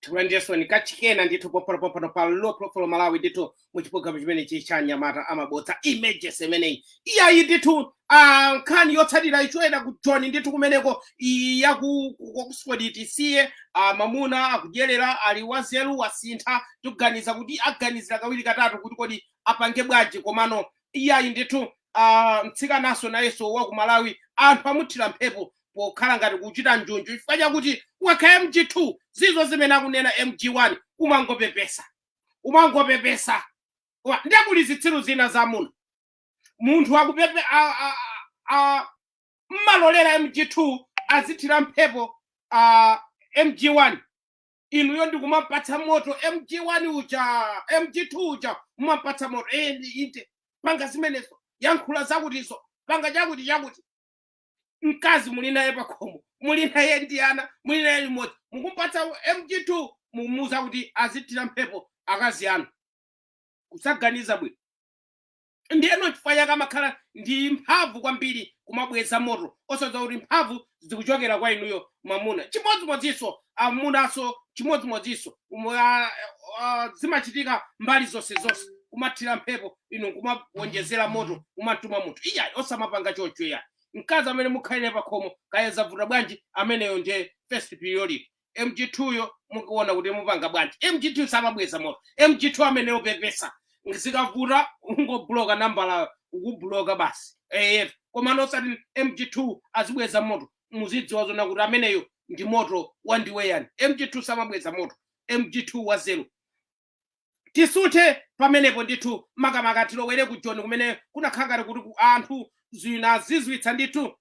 tikulandireninso kachikena ndithu pompanopompano pa low profile malawi ndithu mu chipologalamu chimenechi cha nyamata amabodza emergency imeneyi iyayi ndithu ah, nkhani yotsatira ichokera ku joni ndithu kumeneko iyi ya ku ku- ku oxford tisiye ah, mamuna akudyerera ali wazeru wasintha tikuganiza kuti aganizira kawiri katatu kuti kodi apange bwanji komano iyayi ndithu ah, mtsikananso nayenso wa ku malawi anthu amuthira mphepo pokhala ngati kuchita njunju chifukwa chakuti ukakhala mg2 zizo zimene akunena mg1 umangopepesa umangopepesa Wa- ndiye kuli zitsiru zina za amuna munthu akupepe a- a- a- mmalolera mg2 azithira mphepo a mg1 inuyo ndikumampatsa moto mg1 uja mg2 uja mumampatsa moto eh, ndi- inde panga zimenezo yankhula zakutizo panga chakuti chakuti mkazi muli naye pakhomo muli naye ndi ana muli naye limodzi mukumpatsa mg2 mukumuuza kuti azithira mphepo akazi anu kusaganiza bwino ndiyeno chifukwa chake amakhala ndi mphamvu kwambiri kumabweza moto osadziwa kuti mphamvu zikuchokera kwa inuyo mwamuna chimodzimodzinso amunanso chimodzimodzinso umo ah, ah, zimachitika mbali zonse zonse kumathira mphepo inu kumawonjezera moto kumatuma munthu iyayi osamapanga chocho iyayi mkazi amene mukhala naye pakhomo kaya zavuta bwanji ameneyo ndiye first priority mg2 yo mukuona kuti mupanga bwanji mg2 samabweza moto mg2 ameneyo pepesa zikavuta ungobloka nambala kubloka basi ef komano osati mg2 azibweza moto muzidziwa zoona kuti ameneyo ndi moto wandiweyani mg2 samabweza moto mg2 wanzeru tisuthe pamenepo ndithu makamaka tilowere ku joni kumene kunakhala ngati kuti ku- anthu zinazizwitsa ndithu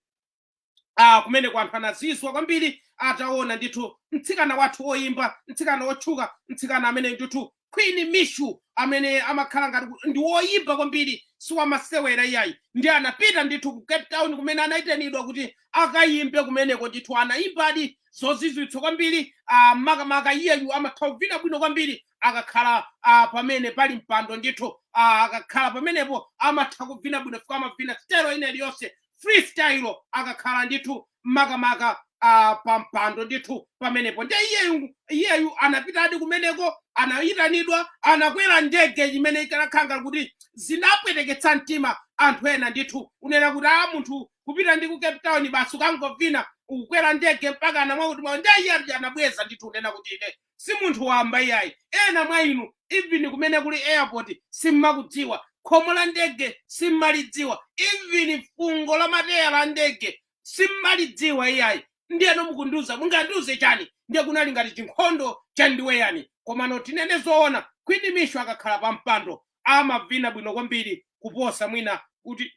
ah, kumeneku anthu anazizwa kwambiri ataona ndithu mtsikana wathu woyimba mtsikana wotchuka mtsikana amene ndithu Queen Mishu amene amakhala ngati kuti ndi woyimba kwambiri si wamasewera iyayi ndi anapita ndithu ku Cape Town kumene anayitanidwa kuti akayimbe kumeneko ndithu anayimbadi zozizwitsa kwambiri ah, makamaka iyeyu amatha kuvina bwino kwambiri akakhala ah, pamene pali mpando ndithu ah, akakhala pamenepo amatha kuvina bwino fika amavina stailo ina iliyonse freestyle akakhala ndithu makamaka ah, pa mpando ndithu pamenepo nde iyeyu iyeyu anapitadi kumeneko anayitanidwa anakwera ndege chimene chinakhala ngati kuti zinapweteketsa mtima anthu ena ndithu kunena kuti a munthu kupita ndi ku cape town basi kukangovina kukwera ndege mpaka anamwa kuti mwa nde iye anabweza ndithu kunena kuti ine si munthu wamba iyayi ena mwa inu even kumene kuli airport simmakudziwa khomo la ndege simmalidziwa even fungo la mateya la ndege simmalidziwa iyayi ndiyeno mukundiuza mungandiuze chani ndiye kunali ngati chinkhondo cha ndiweyani komano tinene zoona Queen Mishu akakhala pa mpando amavina bwino kwambiri kuposa mwina kuti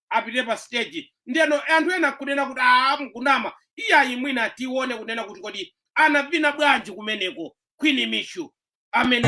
apite pa stage ndeno anthu ena kunena kuti aa mukunama iyayi mwina tione kunena kuti kodi anavina bwanji kumeneko queen mishu amene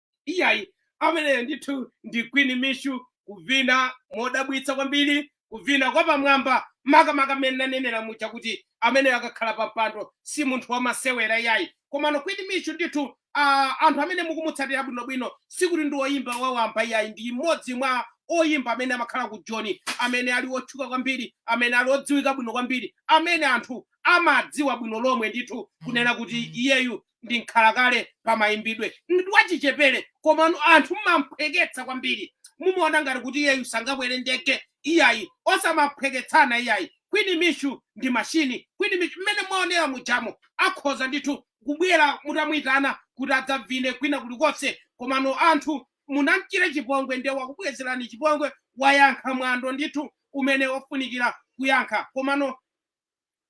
iyayi ameneyo ndithu ndi queen mishu kuvina modabwitsa kwambiri kuvina kwapamwamba makamaka mmene nanenera muja kuti ameneyo akakhala pa mpando si munthu wamasewera iyayi komano queen mishu ndithu uh, anthu amene mukumutsatira bwinobwino sikuti ndi oyimba wawamba iyayi ndi mmodzi mwa oyimba amene amakhala ku joni amene ali otchuka kwambiri amene ali odziwika bwino kwambiri amene anthu amadziwa bwino lomwe ndithu kunena kuti iyeyu ndi mkhalakale pa mayimbidwe ndi wachichepere komano anthu mumamphweketsa kwambiri mumaona ngati kuti iyeyu sangakwere ndege iyayi osamaphweketsana iyayi kwini mishu ndi machini kwini mishu mmene mwaonera mujamo akhoza ndithu kubwera mutamuyitana kuti adzavine kwina kulikonse komano anthu munamchira chipongwe nde wakubwezerani chipongwe wayankha mwano ndithu umene ofunikira kuyankha komano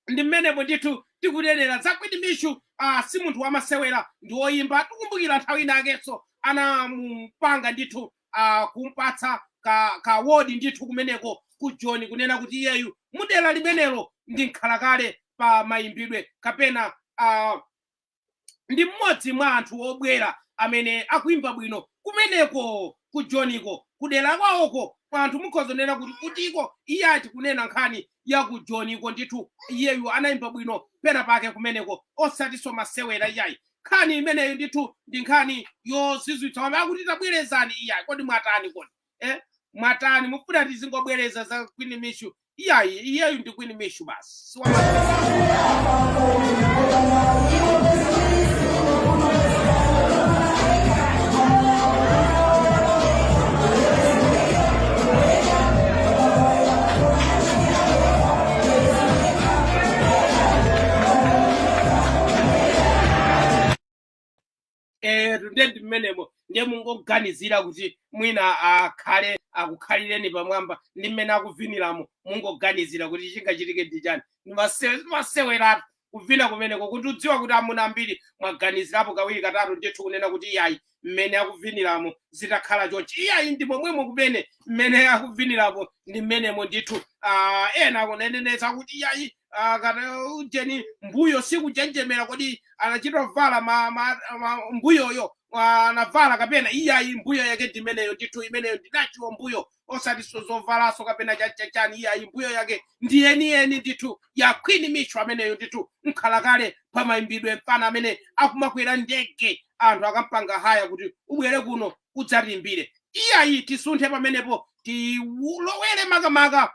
ndi mmenemo ndithu tikunenera za Queen Mishu ah, si munthu wamasewera ndi woyimba tikumbukira nthawi inakenso anamupanga ndithu ah, kumpatsa ka, ka award ndithu kumeneko ku Joni kunena kuti iyeyu mudera limenelo ndi mkhalakale pa mayimbidwe kapena ah, ndi mmodzi mwa anthu obwera amene akuimba bwino kumeneko ku joniko kudera kwawoko kwa anthu mukhoza kunena kuti kutiko iyayi tikunena nkhani ya ku joniko ndithu iyeyu anaimba bwino pena pake kumeneko osatinso masewera iyayi nkhani imeneyo ndithu ndi nkhani yozizwitsa wamene akuti tabwerezani iyayi kodi mwatani kodi eh? mwatani mufuna tizingobwereza za queen mishu iyayi iyeyu ndi queen mishu basi si wa- Eh, nde ndi mmenemo ndiye mungoganizira kuti mwina akhale akukhalireni pamwamba ndi mmene akuviniramo mungoganizira kuti chingachitike ndi chani maseweratu kuvina kumeneko ndikudziwa kuti amuna ambiri mwaganizirapo kawiri katatu ndithu kunena kuti iyayi mmene akuviniramo zitakhala chonchi iyayi ndi momwemo kumene mmene akuviniramo ndi mmenemo ndithu ah, ena akunenenetsa kuti iyayi ah, kana ujeni mbuyo sikujenjemera kodi anachita uvala ma, ma, ma, mbuyoyo ah, anavala kapena iyayi mbuyo yake ndi imeneyo ndithu imeneyo ndinachiwa mbuyo osati so- zovalaso kapena chachachani iyayi mbuyo yake ndi yeniyeni ndithu ya queen mitcho ameneyo ndithu mkhalakale pamayimbidwe mfana amene akumakwera ndege anthu akampanga haya kuti ubwere kuno udzatiimbire iyayi tisunthe pamenepo tilowere makamaka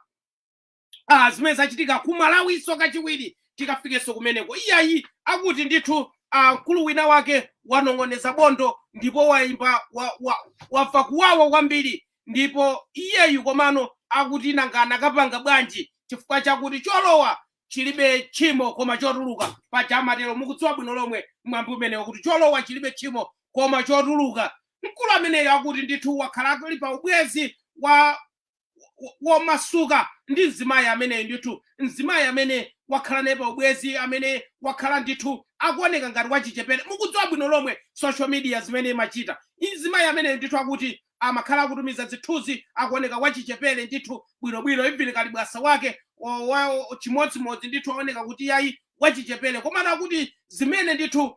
ah, zimene zachitika ku malawinso kachiwiri tikafikenso kumeneko iyayi akuti ndithu ah, mkulu wina wake wanong'oneza bondo ndipo wamva wa, wa, wamva kuwawa kwambiri ndipo iyeyu komano akuti nanga anakapanga bwanji chifukwa chakuti cholowa chilibe tchimo koma chotuluka paja amatero mukudziwa bwino lomwe mwambi umenewo kuti cholowa chilibe tchimo koma chotuluka mkulu ameneyo akuti ndithu wakhala ali pa ubwenzi wa womasuka ndi mzimayi ameneyi ndithu mzimayi amene wakhala naye pa ubwenzi amene wakhala ndithu akuoneka ngati wachichepere mukudziwa bwino lomwe social media zimene imachita mzimayi ameneyi ndithu akuti amakhala akutumiza zithunzi akuoneka wachichepere ndithu bwinobwino even kalibwasa wake wa- wa- chimodzimodzi ndithu aoneka kuti yayi wachichepere komano akuti zimene ndithu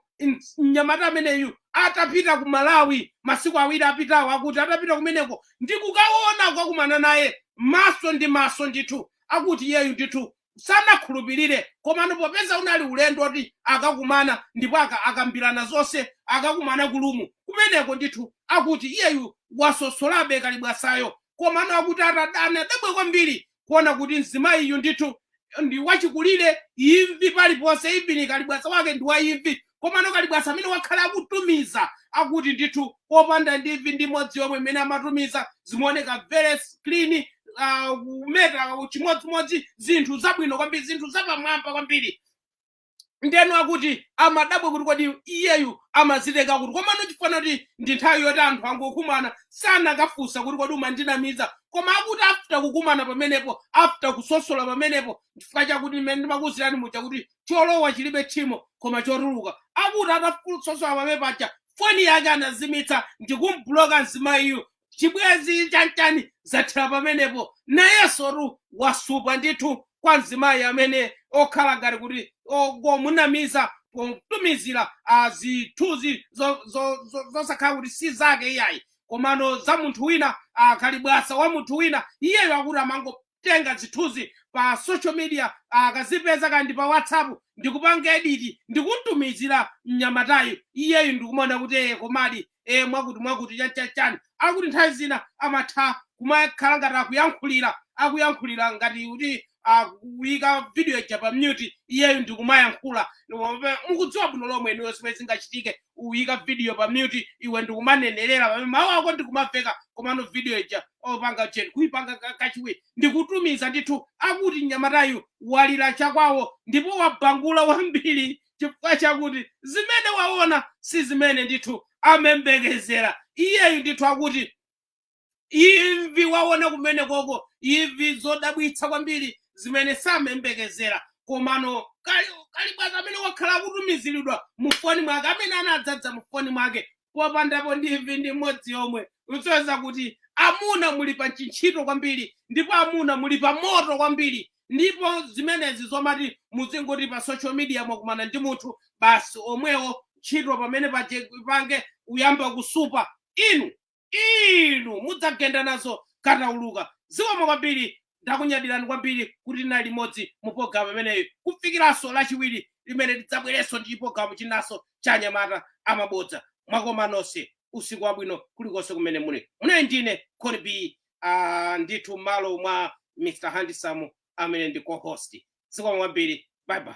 mnyamata ameneyu atapita ku malawi masiku awiri apitawo akuti atapita kumeneko ndi kukaona kukakumana naye maso ndi maso ndithu akuti iyeyu ndithu sanakhulupirire komano popeza unali ulendo woti akakumana ndipo aka- akambirana zonse akakumana ku room kumeneko ndithu akuti iyeyu wasosolabe kalibwasayo komano akuti atada- anadabwa kwambiri kuona kuti mzimayiyu ndithu ndi wachikulire imvi paliponse even kalibwasa wake ndi wa imvi komano kalibwasa amene wakhala akutumiza akuti ndithu opanda ndi imvi ndi imodzi yomwe imene amatumiza zimaoneka very clean ah, kumeta chimodzimodzi zinthu zabwino kwambiri zinthu zapamwamba kwambiri ndiyeno akuti amadabwa kuti kodi iyeyu amazitenga kuti komano chifukwa chakuti ndi nthawi yoti anthu angokumana sanakafunsa kuti kodi umandinamiza koma akuti after kukumana pamenepo after kusosola pamenepo chifukwa chakuti mmene ndimakuzirani muja kuti cholowa chilibe tchimo koma chotuluka akuti atasosola pamene paja foni yake anazimitsa ndikumbloka mzimayiyu chibwenzi chachani zathera pamenepo nayensotu wasupa ndithu kwa mzimayi amene okhala ngati kuti omunamiza pomutumizira zithunzi zosakhala zo, zo, zosakhala kuti si zake iyayi komano za munthu wina akalibwasa wa munthu wina iyeyo akuti amango kutenga zithunzi pa social media akazipeza kaya ndi pa whatsapp ndikupanga editi ndikuntumizira mnyamatayu iyeyu ndikumaona kuti ee komadi ee mwakuti mwakuti chanchachani akuti nthawi zina amatha kumakhala ngati akuyankhulira akuyankhulira ngati kuti akuyika video ija pa mute iyeyu ndikumayankhula Ndikumva- mukudziwa bwino lomwe inuyo zimene zingachitike uyika video pa mute iwe ndikumanenerera pamene mawu ako ndikumaveka komano video ija opanga jen kuipanga ka- kachiwiri ndikutumiza ndithu akuti mnyamatayu walira chakwawo ndipo wabangula kwambiri chifukwa chakuti zimene waona si zimene ndithu amembekezera iyeyu ndithu akuti imvi waona kumene koko imvi zodabwitsa kwambiri zimene samembekezera komano kali kali bwazi amene wakhala akutumiziridwa mufoni mwake amene anadzadza mufoni mwake popandapo ndi imvi ndi mmodzi yomwe usonyeza kuti amuna muli pa chintchito kwambiri ndipo amuna muli pa moto kwambiri ndipo zimenezi zomati muzingoti pa social media mwakumana ndi munthu basi omwewo ntchito pamene paje- pange kuyamba kusupa inu inu mudzagenda nazo katauluka zikomo kwambiri ndakunyadirani kwambiri kuti tinali limodzi mu pologalamu imeneyi kufikiranso lachiwiri limene tidzabwerenso ndi chipologalamu chinanso cha anyamata amabodza mwakoma nonse usiku wabwino kulikonse kumene muli mnyamata ndine khoni b ah, ndithu mmalo mwa mr handsome amene ndi co-host zikomo kwambiri bye bye